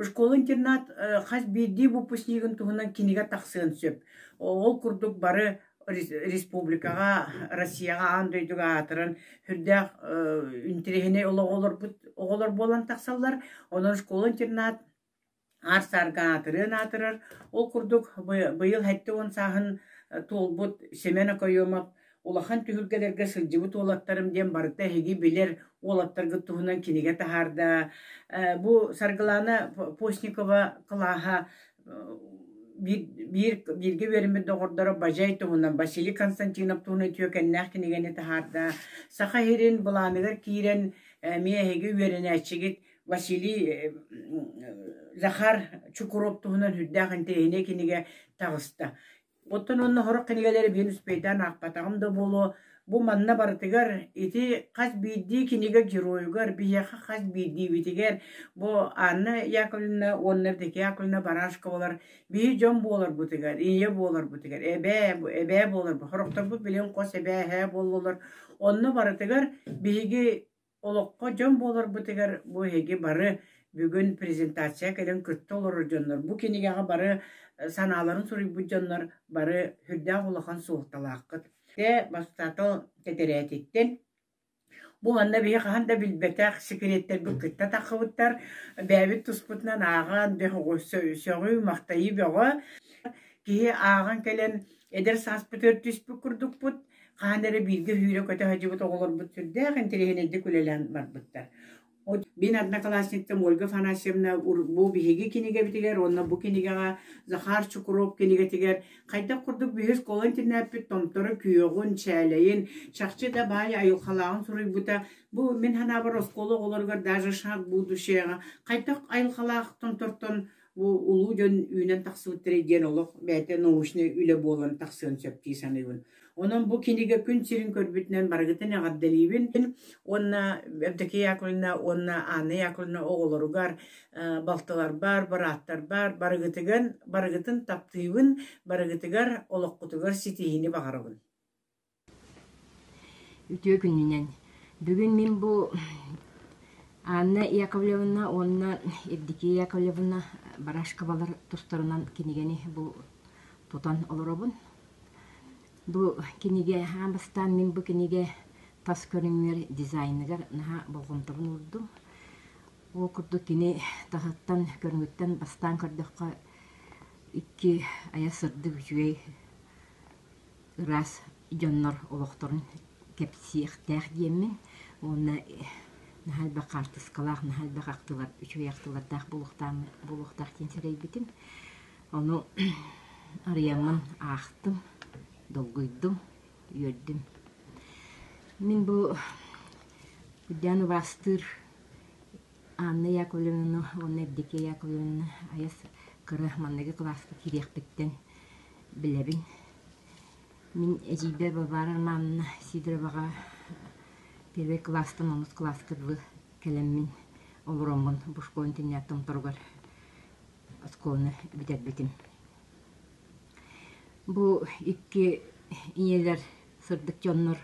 Школа-интернат хас биирдии выпускнигын туһунан кинигэ тахсыан сөп. Ол курдук бары республикаҕа, Россияҕа аан дойдуга аатыран сүрдээх интириэһинэй олоҕолорбут оҕолор буолан тахсаллар. Онон школа-интернат Ар-сарга аатырыан аатырар, ол курдук быйыл сэттэ уон сааһын туолбут Семен Окоемов улахан түһүлгэлэргэ сылдьыбыт уолаттарым диэн барыта эһиги билэр уолаттаргыт туһунан кинигэ таһаарда. Бу Саргылаана Постникова кылааһа бииргэ үөрэммит доҕордоро Бажай туһунан, Василий Константинов туһунан үтүөкэннээх кинигэни таһаарда. Саха сирин былааныгар киирэн эмиэ эһиги үөрэнээччигит Василий э, Захар Чукуров туһунан сүрдээх интэриэһинэй кинигэ таҕыста. Оттон онно сорох кинигэлэри биир успейтаан аахпатаҕым да буолуо, бу манна барытыгар ити хас биирдии кинигэ геройугар, биһиэхэ хас биирдиибитигэр бу Анна Яковлевна уонна Рдекия Яковлевна Барашковалар биһи дьон буоларбытыгар, ийэ буоларбытыгар, эбээ, эбээ буоларбыт, сорохторбут билигин хос эбээ, эһээ буоллулар. Онно барытыгар биһиги Олоххо дьон буоларбытыгар бу эһиги бары бүгүн презентация кэлэн кытта олорор дьоннор, бу кинигэҕэ бары санааларын суруйбут дьоннор бары сүрдээх улахан суолталааххыт. Дэ бастатал тэтэрээтиттэн бу манна биһи хаһан да билбэтэх секреттэрбит кытта таххыбыттар бэйэбит туспутунан ааҕан бэх сөҕүү махтайыы бөҕө киһи ааҕан кэлэн эдэр сааспыт өртүспүт курдукпут Хаһан эрэ бииргэ сүүрэ-көтө сылдьыбыт оҕолорбут сүрдээх интэриэһинэйдик үлэлээн барбыттар. Мин одноклассниктым Ольга Афанасьевна бу биһиги кинигэбитигэр уонна бу кинигэҕэ Захар Чукров кинигэтигэр хайдах курдук биһир кылын тинээппит Томторо күөҕүн, чээлэйин, чахчы да баай айылхалааҕын суруйбута. Бу мин санаабар оскуола оҕолоругар даже шаг будущего хайдах айылхалаах Томтортон Бу улуу дьон үүнэн тахсыбыттара диэн олох бэйэтэ научнай үлэ буолан тахсыан сөп дии саныыбын. Онон бу кинигэ күн сирин көрбүтүнэн барыгытын эҕэрдэлиибин уонна Евдокия Яковлевна уонна Анна Яковлевна оҕолоругар, э, балтыларбар, бырааттарбар барыгытыган барыгытын таптыыбын, барыгытыгар олоххутугар ситиһиини баҕарабын. Үтүө күнүнэн! Бүгүн мин бу Анна Яковлевна уонна Евдокия Яковлевна Барашковалар тустарынан кинигэни бу тутан олоробун. Бу кинигэ аан бастаан мин бу кинигэ тас көрүҥүгэр дизайныгар наһаа болҕомтобун уурдум. Ол курдук кини таһыттан көрүҥүттэн бастаан көрдөххө икки айа сырдык үчүгэй ыраас дьоннор олохторун кэпсиэхтээх диэммин уонна наһаа элбэх хаартыскалаах наһаа элбэх ахтылар үчүгэй ахтылардаах буолуохтаах буолуохтаах диэн сэрэйбитим ону арыйаммын аахтым долгуйдум үөрдүм мин бу буддян убаастыыр Анна Яковлевна уонна Евдокия Яковлевна айас кыра манныгы кылааска кириэхпиттэн билэбин. Мин эдьийбэ Варвара Романовна Сидороваҕа первый класстан онус класска дылы кэлэммин олороммун бу школын теннятом торугар оскуоланы бүтэрбитим. Бу икки ийэлэр сырдык дьоннор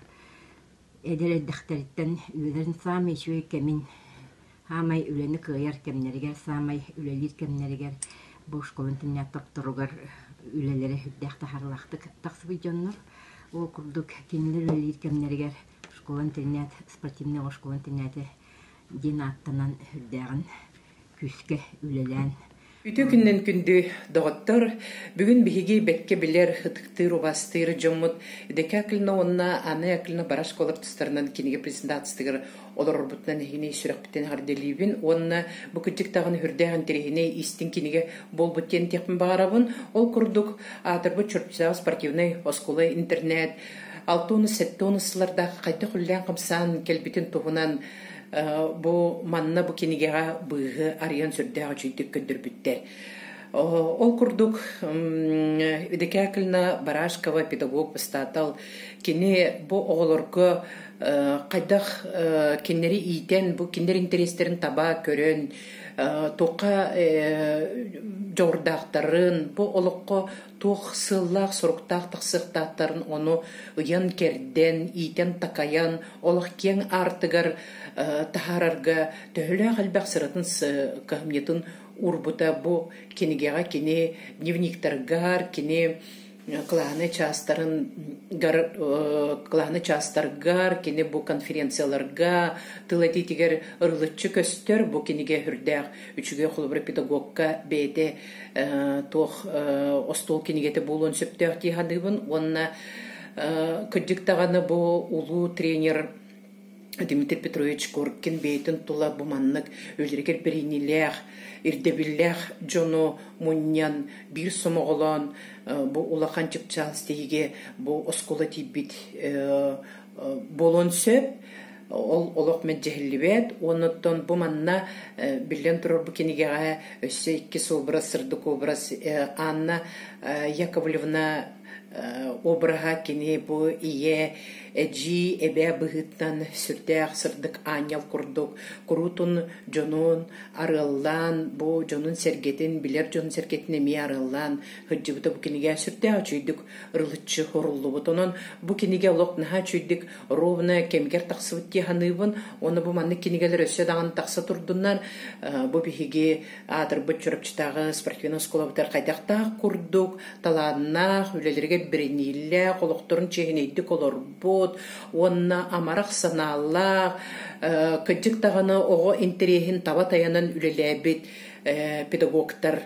Эдэр эрдэхтэриттэн үөлэрин саамай үчүгэй кэмин, саамай үлэни кыайар кэмнэригэр, саамай үлэлиир кэмнэригэр бошкабын тунньаат тохторугар үлэлэрэ үрдээх таһаарылаахтык тахсыбыт дьоннор. Ол курдук кинилэр үлэлиир кэмнэригэр школа-интернат, спортивнай оскуола-интернаты диэн ааттанан үрдээҕин күүскэ үлэлээн Үтүө күннэн күндү доҕоттор! Бүгүн биһиги бэккэ билэр, ытыктыыр, убаастыыр дьоммут Дэкэ Акылина уонна Анна Акылина бара оскуолар тустарынан кинигэ презентациятыгар олорорбутунан иһини сүрэхпитин эҕэрдэлиибин уонна бу кырдьык даҕаны үрдээх интэриэһинэй истиҥ кинигэ буолбут диэн этиэхпин баҕарабын. Ол курдук аатырбыт Чурчусаҕа спортивнай оскуола интернет алта уонна сэттэ уонна сыллардаах хайдах үллээн хамсаан кэлбитин туһунан Бу манна бу кинигэҕэ быыһы арыйан сүрдээх үчүйдүк көрдөрбүттэр. Ол курдук Декакльна Барашкова педагог бастатал кини бу оҕолорго хайдах кинилэри иитэн бу кинилэр интэриэстэрин таба көрөн туохха дьоҕурдаахтарын бу олоххо туох сыаллаах-соруктаах тахсыахтаахтарын ону ыйан-кэрдэн, иитэн-такайан, олох киэҥ аартыгар таһаарарга төһөлөөх элбэх сыратын кыһамньытын уурбута бу кинигэҕэ кини дневниктаргар, кини кылааны чаастарын кылааны чаастаргар, кини бу конференцияларга, тыл этиитигэр ырылыччы көстөр бу кинигэ үрдээх үчүгэй холобура педагогка бэйэтэ туох остуол кинигэтэ буолуон сөптөөх дии саныыбын уонна кырдьык даҕаны бу улуу тренер Дмитрий Петрович Коркин бэйэтин тула бу маннык өлөргэр бэриниилээх ирдэбиллээх дьону мунньан биир сомоҕолоон бу улахан чыпчаал сиһигэ бу оскуола тиийбит буолуон сөп ол олох мэджэһиллибэт уонуттан бу манна биллэн турар бу кинигэҕэ өссө иккис образ сырдык образ анна яковлевна обраһа кини бу ийэ эдьии эбээ быһыыттан сүрдээх сырдык аанньал курдук куруутун дьонун арыаллаан бу дьонун сэргэтин билэр дьонун сэргэтин эмиэ арыаллаан сылдьыбыта бу кинигэ сүрдээх үчүгэйдик рылыччы оруллубут. Онон бу кинигэ олох наһаа чүйдик ровно кэмигэр тахсыбыт дии саныыбын. Оны бу маннык кинигэлэр өссө даҕаны тахса турдуннар. Бу биһиги аатырбыт Чурапчытааҕы спортивной оскуолабытыгар хайдахтаах курдук талааннаах, үлэлэригэр биринииллээх, олохторун чиэһинэйдик олорбут уонна амарах санаалаах, кыддьык даҕаны оҕо интэриэһин таба тайанан үлэлээбит педагогтар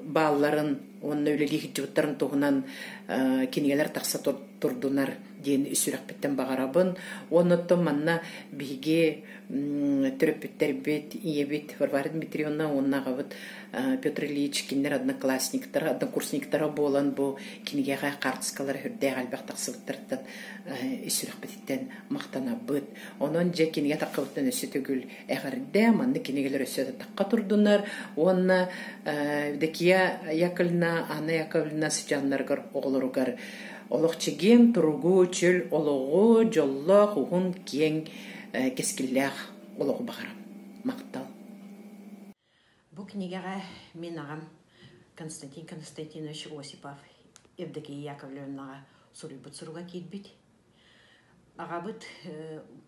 баалларын уонна үлэлии сылдьыбыттарын туһунан кинигэлэр тахса турдунар диэн сүрэхпиттэн баҕарабын уонна оттон манна биһиги төрөппүттэрбит ийэбит Варвара Дмитриевна уонна аҕабыт Петр Ильич кинилэр одноклассниктара однокурсниктара буолан бу кинигэҕэ хаартыскалара үрдээх элбэх тахсыбыттартан сүрэхпититтэн махтанабыт онон дьэ кинигэ таххыбыттан өссө төгүл Эҕэрдэ, манны кинигэлэр өссө атахха турдунар уонна Декия Яковлевна, Анна Яковлевна сыдьааннарыгар оҕолоругар олох чэгиэн туругу, чөл олоҕу, дьоллоох, уһун, киэҥ, кэскиллээх олоҕу баҕарам. Махтал. Бу кинигэҕэ мин аҕам Константин Константинович Осипов Евдокия Яковлевнаҕа суруйбут суруга киирбит. Аҕабыт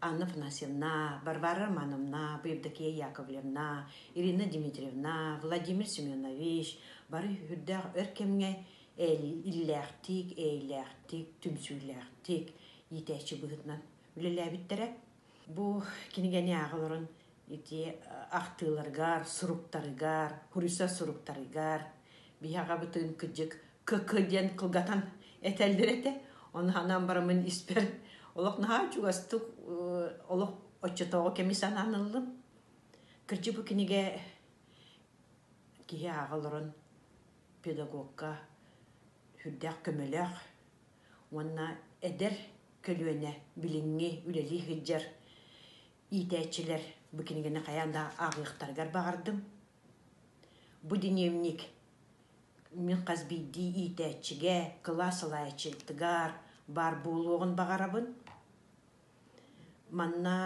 Анна Афанасьевна, Варвара Романовна, бу Евдокия Яковлевна, Ирина Дмитриевна, Владимир Семенович бары үрдээх өр кэмҥэ иллээхтик, эйэлээхтик, түмсүүлээхтик иитээччи быһыытынан үлэлээбиттэрэ. Бу кинигэни ааҕа олорон ити ахтыыларгар, суруктарыгар, Хурүса суруктарыгар биһаҕабытын кыдьык КК диэн кылгатан этэллэр этэ. Оны анаан барамын испэр олох наһаа чугастык олох оччотооҕу кэми санаан ыллым. Кырдьык бу кинигэ киһи ааҕа олорон педагогка сүрдээх көмөлөөх, уонна эдэр көлүөнэ билиҥҥи үлэлии сылдьар иитээччилэр бу кинигэни хайаан да ааҕыахтарыгар баҕардым. Бу динамик мин хас биирдии иитээччигэ, кылаас салайааччытыгар баар буолуоҕун баҕарабын. Манна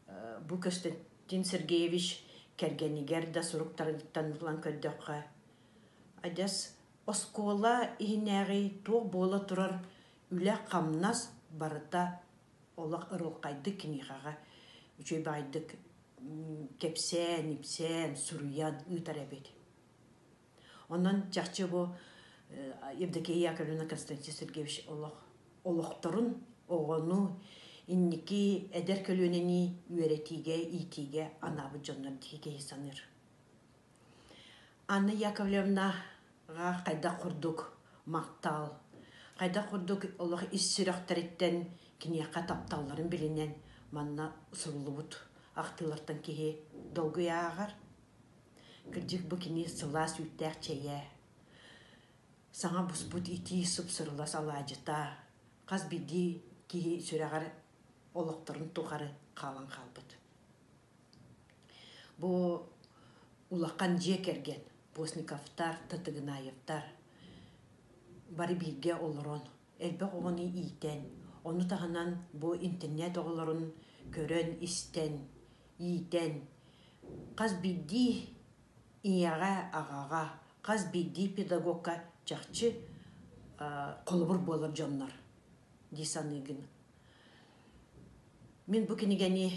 э, бу Костянтин Сергеевич кэргэнигэр да суруктарыттан булан көрдөххө, адьас Оскуола иһинээҕи туох буола турар үлэ-хамнас барыта олох ырылхайдык киниэхэҕэ үчүгэйдик кэпсээн, ипсээн, суруйан ыытар эбит. Онон чахчы бу Евдокия Яковлевна Константин Сергеевич олох олохторун оҕону инники эдэр көлүөнэни үөрэтиигэ, иитиигэ анаабыт дьоннор дии киһи саныыр. Анна Яковлевнаҕа хайдах курдук махтал, хайдах курдук олох ис сүрэхтэриттэн киниэхэ тапталларын билинэн манна суруллубут ахтыылартан киһи долгуйааҕар. Кырдьык бу кини сылаас үүттээх чэйэ, саҥа буспут итии супсурулас алаадьыта, хас биирдии киһи сүрэҕэр олохторун тухары хаалан хаалбыт. Бу улахан дьиэ кэргэн Постниковтар, Татыгынаевтар бары бииргэ олорон элбэх оҕону иитэн, ону таһынан бу интернет оҕолорун көрөн, истэн, иитэн, хас биирдии ийэҕэ, аҕаҕа, хас биирдии педагогка чахчы холобур буолар дьоннор дии саныыгын. Мин бу кинигэни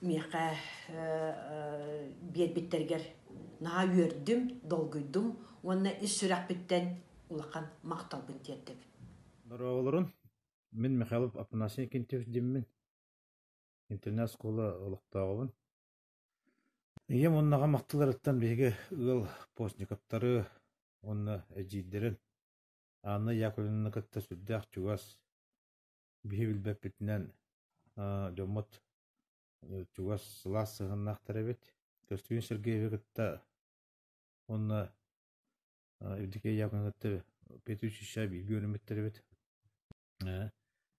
миэхэ биэрбиттэргэр наһаа үөрдүм, долгуйдум уонна ис сүрэхпиттэн улахан махталбын тиэрдэбин. Дорооболорун. Мин Михайлов Афанасий Кентьев диммин. Интернет оскуола олохтооҕубун. Ийэм оннаҕа махталларыттан биһиги ыал постниковтары уонна эдьиийдэрин Анна Яковлевны кытта сүрдээх чугас, биһи билбэппитинэн дьоммут чугас сылаас сыһыаннаахтар эбит. Көстүгүн Сергеевы кытта уонна Евдокия Яковлевны кытта петучища бииргэ үөрэммиттэр эбит.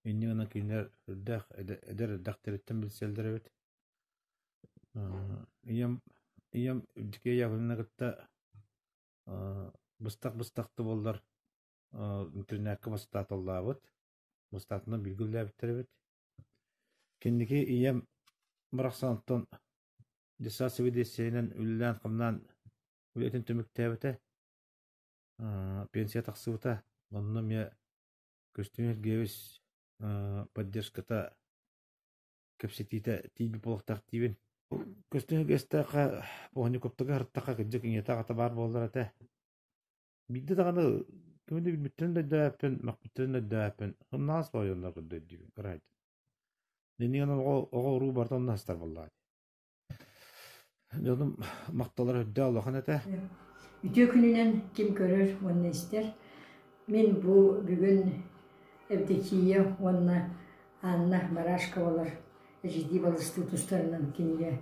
Инньэ гынан кинилэр үрдээх эдэр эрдэхтэриттэн билсэллэр эбит. Ийэм ийэм Евдокия Яковлевна кытта Быстах-быстах да буоллар интэринээккэ бастааталлаабыт. Бастаатынан бииргэ үлэлээбиттэр эбит. Кэнники ийэм барахсантан детсад сэбиэдиссэйинэн үлэлээн-хамнаан үлэтин түмүктээбитэ. Пенсия тахсыбыта. Онно эмиэ Костюм Сергеевич поддержката кэпсэтиитэ тиийбит буолуохтаах диибин. Көстөн үгэстэххэ, Поганниковтарга сырыттахха кырдьык ийэтэ аҕата баар буоллар этэ. Биирдэ даҕаны кими да билбиттэрин да өйдөөбөппүн, махпыттарын да өйдөөбөппүн. Хыннаҕас боойуллар көрдөйдүүбүн. Кыраайдын. Ниниэн оҕо, оҕо-уруу барыта онно сытар буоллаҕа. Дьонум махталлара үрдэ улахан этэ. Үтүө күнүнэн ким көрөр уонна истэр. Мин бу бүгүн Евдокия уонна Анна Барашковалар HD балыстыы тустарынан кинигэ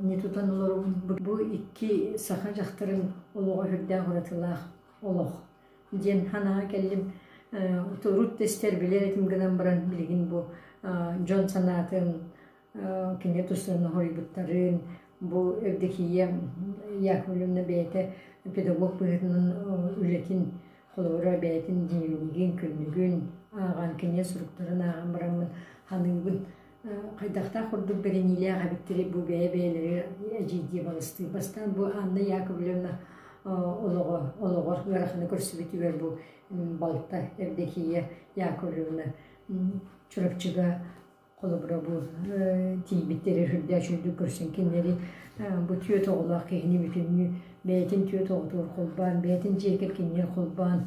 не тутан олоробун. Бу икки саха дьахтарын олоҕо үрдээх уратылаах олох диэн санаҕа кэллим. Урут да истэр билэр этим гынан баран билигин бу дьон санаатын Кини туssen хоһуйбуттарын, бу Евдокия Яковлевна бэйэтэ педагог быһыытынан үлэтин холобура бэйэтин дневнигин, күннүгүн ааҕан, кинигэ суруктарын ааҕан бараммын саныыбын. Хайдахтаах курдук бэриниилээх эбиттэрий бу бэйэ-бэйэлэри эдьиийдии балыстыы. Бастаан бу Анна Яковлевна олоҕо олоҕор ыараханы көрсүбүтүгэр бу балта Евдокия Яковлевна Чурапчыга Холобура бу тиийбиттэрэ үрдээх үчүгдүк көрсөн кинилэри бу түөрт оҕолоох киһини бүтүннүү бэйэтин түөрт оҕотугар холбоон, бэйэтин дьиэ кэргэнигэр холбоон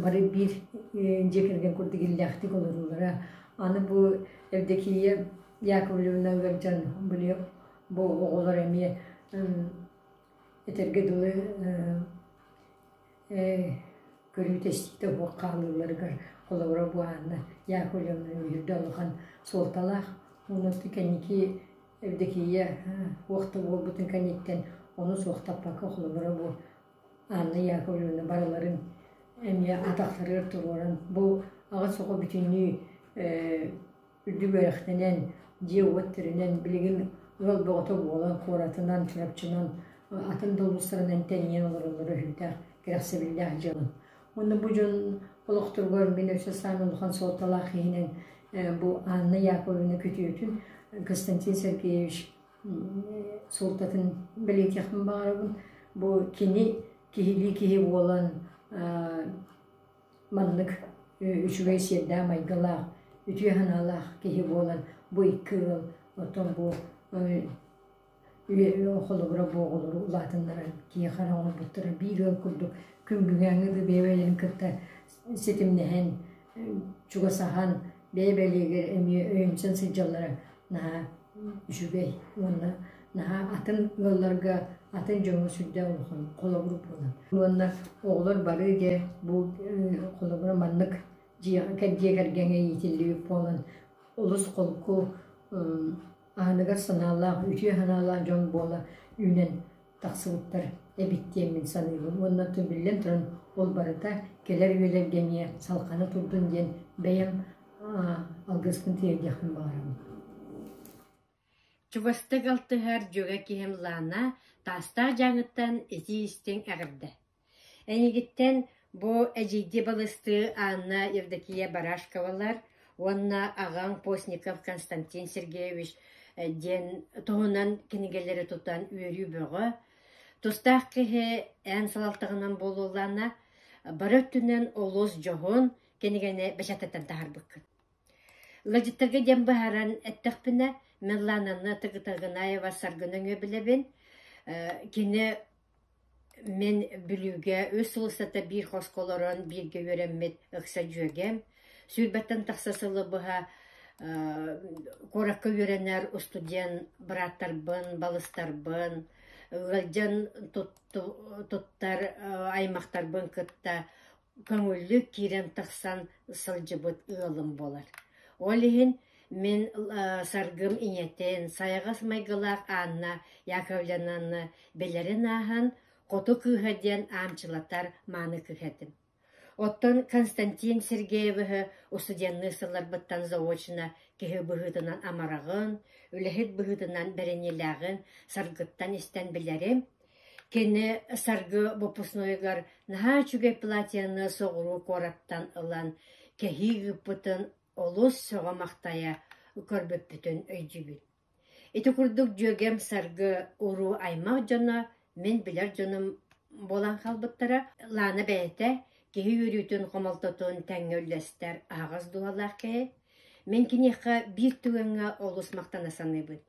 бары биир дьиэ кэргэн курдук иллээхтик олоруулара. Аны бу Евдокия Яковлевна ыалдьан били бу оҕолоро эмиэ этэргэ дылы Ээ, көрүүтэстиктэ уһук хаалыыларыгар, холобура, бу Анна Яковлевна үһүрдэ улахан суолталаах. Уну кэнники Евдокия туох да буолбутун кэнниттэн ону суохтаппакка, холобура, бу Анна Яковлевна барыларын эмиэ атахтарыгар туруоран, бу аҕыс оҕо бүтүннүү Үдүгэйэхтэнэн, дьиэ-уот тэринэн, билигин ыал бөҕөтө буолан, куоратынан, чурапчынан атын да улуустарынан тэнийэн олороллоро үһүнтээх кэрэхсэбиллээх дьыалам. Уонна бу дьон олохторугар мин өссө саамай улахан суолталаах киһинэн бу Анна Яковлевна күтүөтүн Константин Сергеевич суолтатын бэлиэтиэхпин баҕарабын. Бу кини киһилии киһи буолан Маннык үчүгэй сиэрдээх-майгылаах, үтүө санаалаах киһи буолан бу икки ыал оттон бу холобура буоҕулары улаатыннаран киһиэхэ эрэ оҥорбуттара биир ыал курдук күн бүгээҥҥи да бэйэбитин кытта ситимнэһэн чугасаһан бэйэ-бэлиэлэр эмиэ өйөнсөн сылдьаллара наһаа үчүгэй уонна наһаа атын ыалларга атын дьоҥҥо сүрдээх улахан холобур буолар. Уонна оҕолор бары дьэ бу холобура маннык дьиэ кэргэҥэ иитиллибит буолан олус холку аһыныгас санаалаах, үтүө санаалаах дьон буола үүнэн Тахсыбыттар эбит диэн мин саныыбын уонна оттон биллэн туран ол барыта кэлэр үөлэргэниэ салҕана турдун диэн бэйэм алгыспын тиэрдиэхпин баҕарабын Чугастык алтыһар дьүгэ киһим Лаана Таастаах Дьааҥыттан итии-истиҥ эҕэрдэ Эйигиттэн бу эдьиийдии балыстыы Анна Евдокия Барашковалар уонна аҕаҥ Постников Константин Сергеевич диэн туһунан кинигэлэри тутан үөрүү бөҕө, тустаах киһи эн салалтаҕынан буолуоллаана, бары өттүнэн олус дьоһун кинигэни бэчээттэтэн таһаарбыккыт Ыалдьыттарга диэн быһааран эттэхпинэ, Мирлананы Тагытагынаева Саргы нөҥүө билэбин. Кини мин Бүлүүгэ үс сыл устата биир хоско олорон бииргэ үөрэммит ыкса дьүөгэм. Сүүрбэттэн тахса сылы быһа куоракка үөрэнэр устудьуон бырааттарбын, балыстарбын, ыалдьан туттар аймахтарбын кытта көҥүллүк киирэн тахсан сылдьыбыт ыалым буолар. Ол иһин мин Саргым ийэтин, сайаҕас майгылаах Анна Яковлевнаны билэрин ааһан «Хоту кыыһа» диэн аамчылатар мааны кыыһа этим. Оттон Константин Сергеевиһы устудьуоннуу сылларбыттан заочно киһи быһыытынан амараҕын, үлэһит быһыытынан бэриниилээҕин Саргыттан истэн билэрим, Кини Саргы боппуруоһугар наһаа үчүгэй платьены соҕуруу куораттан ылан кэһии ыыппытын олус сөҕө-махтайа көрбүппүтүн өйдүүбүт. Ити курдук дьүөгэм Саргы уруу аймах дьоно, мин билэр дьонум буолан хаалбыттара. Лаана бэйэтэ киһи үөрүүтүн, хомолтотун тэҥҥэ үллэстэр аһаҕас дууһалаах киһи. Мин киниэхэ биир түгэҥҥэ олус махтана саныыбын.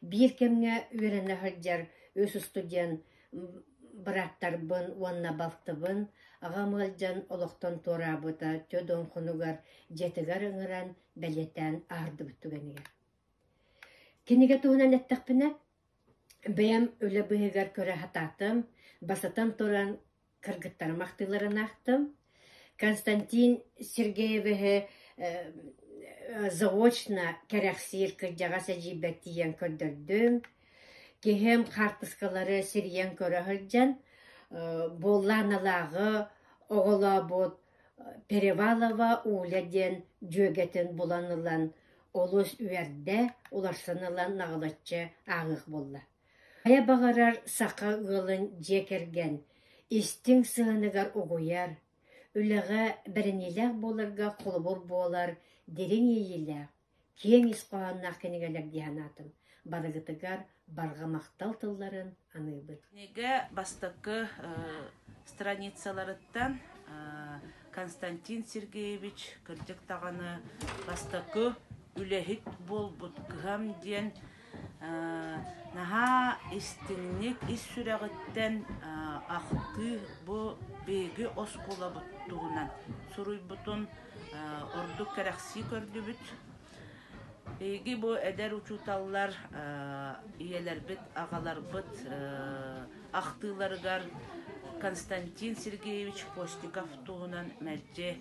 Биир кэмҥэ үөрэнэ сылдьар үс устудьуон бырааттарбын уонна балтыбын аҕам ыалдьан олохтон туораабыта Чодуонхунугар дьиэтигэр ыҥыран бэлиэтээн аһардыбыт түгэнигэр. Кинигэ туһунан эттэхпинэ, бэйэм үлэ быыһыгар көрө сатаатым, басытан туран Кыргыттарым ахтыыларын аахтым. Константин Сергеевиһи заочно кэрэхсиир кырдьаҕас эдьиийбэр тиийэн көрдөрдүм. Киһим хаартыскалары сирийэн көрө сылдьан, буоллааналааҕы оҕолообут Перевалова Уля диэн дьүөгэтин булан ылан олус үөрдэ, уларсан ылан наҕылаччы ааҕыах буолла. Хайа баҕарар саха ыалын дьиэ кэргэн истиҥ сыһыаныгар угуйар, үлэҕэ бэриниилээх буоларга холобур буолар дириҥ иэйиилээх, киэҥ ис хоһоонноох кинигэлэр дии санаатым. Барыгытыгар барҕа махтал тылларын аныыбын. Кинигэ бастакы страницаларыттан Константин Сергеевич, кырдьык даҕаны, бастакы үлэһит буолбут кыһам диэн Наһаа истиҥник ис сүрэҕиттэн ахтыы бу биһиги оскуолабыт туһунан суруйбутун ордук кэрэхсии көрдүбүт. Биһиги бу эдэр учууталлар ийэлэрбит, аҕаларбыт ахтыыларыгар Константин Сергеевич Костиков туһунан мэлдьи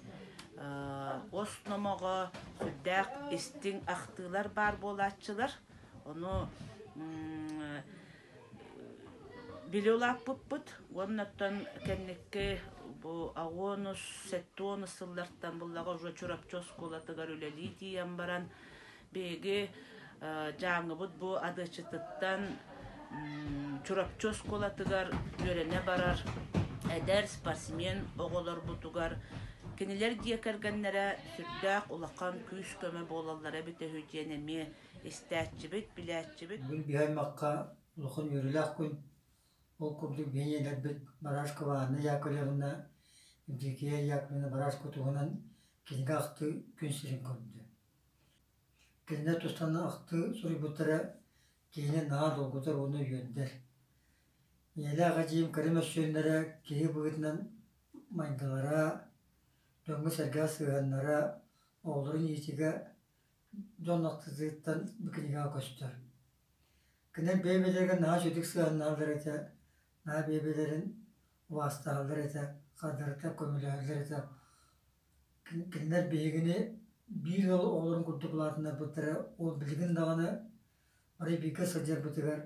Ос номоҕо сүрдээх истиҥ ахтыылар баар буолааччылар. Ону билэ улааппыппыт уонна оттон кэнники бу аҕа уонус сэттэ уонус сыллартан буллаҕа уже Чурапчы оскуолатыгар үлэлии тиийэн баран Биһиги Дьааҥыбыт бу Адыаччытыттан Чурапчы оскуолатыгар үөрэнэ барар эдэр спортсмен оҕолорбутугар кинилэр дьиэ кэргэннэрэ сүрдээх улахан күүс-көмө буолаллара эбитэ үһү диэн эмиэ истээччибит, билээччибит. Бүгүн биһи аймахха улахан үөрүүлээх күн. Ол курдук биһиниилэрбит Барашкова Анна Яковлевна, Евдокия Яковлевна Барашко туһунан кинигэ ахты күн сирин көрдө. Кинилэр тустан ахтыы суруйбуттара киһини наһаа долгутар уонна үөрдэр. Ийэлээх эдьиийим кыра мөссүөннэрэ киһи быһыытынан майгылара, дьоҥҥо-сэргэҕэ сыһыаннара, оҕолорун иитиигэ дьон ахтыытыттан бу кинигэҕэ көстөр. Кинилэр бэйэ-бэйэлэригэр наһаа үчүгэй сыһыаннаһаллар этэ, наһаа бэйэ-бэйэлэрин убаастаһаллар этэ, хардарыттан көмөлөһөллөр этэ. Кинилэр биһигини биир ыал оҕолорун курдук улаатыннарбыттара, ол билигин даҕаны бары бииргэ сылдьарбытыгар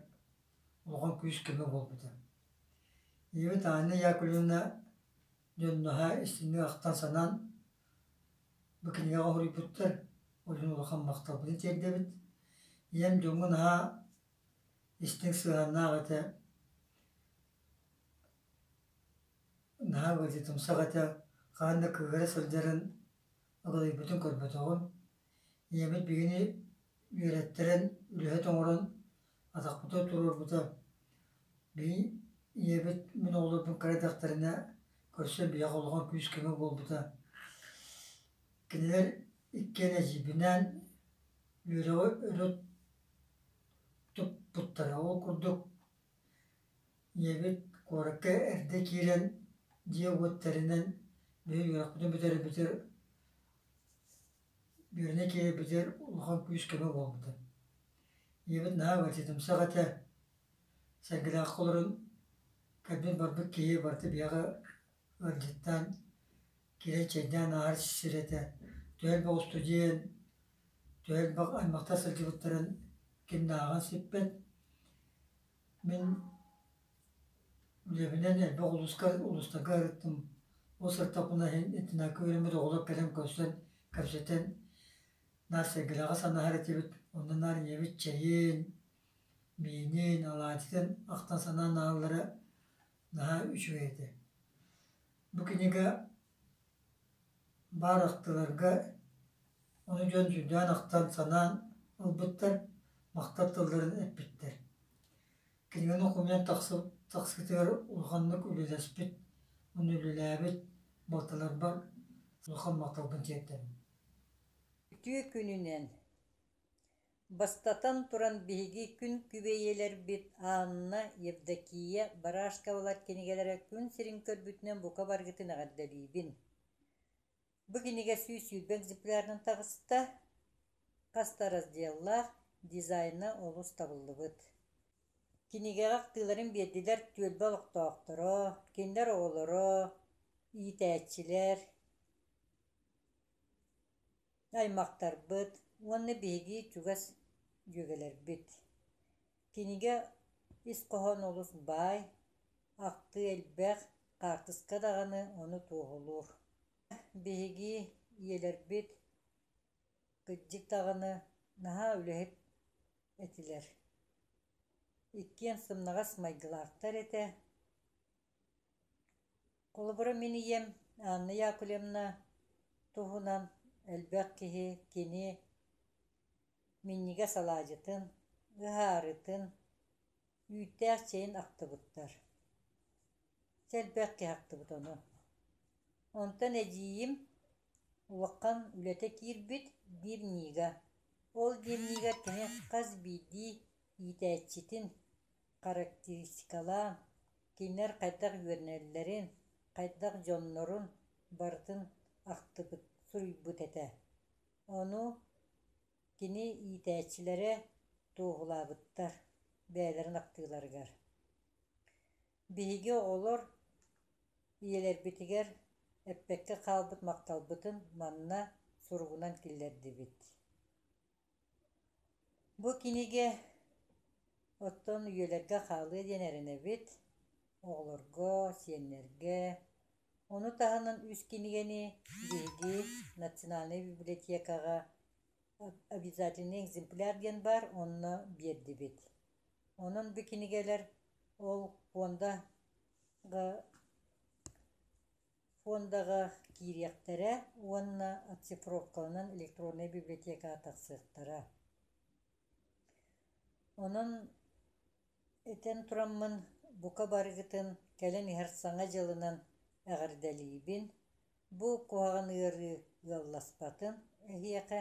улахан күүс-көмө буолбута. Ийэбит Анна Яковлевна дьон наһаа истиҥник ахтан-санаан бу кинигэҕэ хоруйбуттар, ол иһин улахан махталбытын тиэрдэбит. Ийэм дьоҥҥо наһаа истиҥ сыһыаннаах этэ. Наһаа ыалдьытымсах этэ, хаһан да кыыһыра сылдьарын, аҕыдайбытын көрбөтөҕүм. Ийэбит биһигини үөрэттэрэн, үлэһит оҥорон, атахпытыгар туруорбута. Били ийэбит мин оҕолорбун кыра эрдэхтэринэ көрсөн биһиэхэ улахан күүс-көмө буолбута. Кинилэр иккиэн эдьиийбинээн үөрэҕи өрө туппуттара. Ол курдук Ийэбит куоракка эрдэ киирэн дьиэ уоттэринэн бүһүн үөрэхпитин бүтэрбитэр Бүөрнэ киирбитигэр улахан күүс-көмө буолбута. Ийэбит наһаа учительымсах этэ, сэргэлээххэ олорон, көрбүт барбыт киһи барыта биһиэхэ Ыалдьыттаан, киирэн чэйдээн ааһар сирэтэ түһэл боҕусту диэн түһэл аймахтар сылдьыбыттарын кимнээҕин сиппэт. Мин үлэбинэн элбэх улууска улуустарга ырыттым. Бу сырдаппына иһин итиннэки үөрэммит оҕолор кэлэн көрсөн, кэпсэтэн наар сэргэлэҕэ санаһар этибит. Онно наар ийэбит чэйин, миинин, алаадьытын ахтан-санаан аһаллара наһаа үчүгэй этэ. Бу кинигэ баар ахтыларга ону дьон дьүндээн ахтан санаан ылбыттар, махтал тылларын эппиттэр. Кинигэни хомуйан тахсы, тахсыытыгар улаханнык үлэлэспит, уонна үлэлээбит балталарбар улахан махталбын тиэрдэбин. Үтүө күнүнэн Бастатан туран, биһиги күн күбэйэлэрбит Анна, Евдокия, Барашковалар кинигэлэрэ күн сирин көрбүтүнэн бука баргытын эҕэрдэлиибин. Бу кинигэ сүүс сүүрбэ экземплярынан таҕыста, хас да разделлаах, дизайна олус табыллыбыт. Кинигэҕэ ахтыыларын биэрдилэр түөлбэ олохтоохторо, кинилэр оҕолоро, иитээччилэр, аймактарбыт уонна биһиги чугас дьүөгэлэрбит. Кинигэ ис хоһоон олус баай, ахтыы элбэх, хаартыска даҕаны ону туоһулуур. Биһиги ийэлэрбит кырдьык даҕаны наһаа үлэһит этилэр. Иккиэн сымнаҕас майгылаахтар этэ. Холобура, мин ийэм Анна Яковлевна туһунан элбэх киһи кини минньигэс алаадьытын, ыһаарытын, үүттээх чэйин ахтыбыттар. Чэ, элбэх киһи ахтыбыт ону. Онтон эдьиийим улахан үлэтэ киирбит биир ньыыга. Ол биир ньыыгар кини хас биирдии иитээччитин характеристикалаан кинилэр хайдах үөрэнэллэрин, хайдах дьоннорун барытын ахтыбыт, суруйбут этэ. Ону кини иитээччилэрэ туоһулаабыттар бэйэлэрин ахтыыларыгар. Биһиги олор ийэлэрбитигэр эппэккэ хаалбыт махталбытын манна суругунан киллэрдибит Бу кинигэ оттон үйэлэргэ хаалыа диэн эрэнэбит оҕолорго, сиэннэргэ. Ону таһынан үс кинигэни биһиги национальнай библиотекаҕа обязательный экземпляр диэн баар онно биэрдибит. Онон бу кинигэлэр ол пуондаҕа Фондаҕа киириэхтэрэ уонна оцифровкаланан электроннай библиотекаҕа тахсыахтара. Онон этэн тураммын, бука барыгытын кэлэн иһэр Саҥа дьылынан эҕэрдэлиибин. Бу куһаҕан ыарыы ыалласпатын эһиэхэ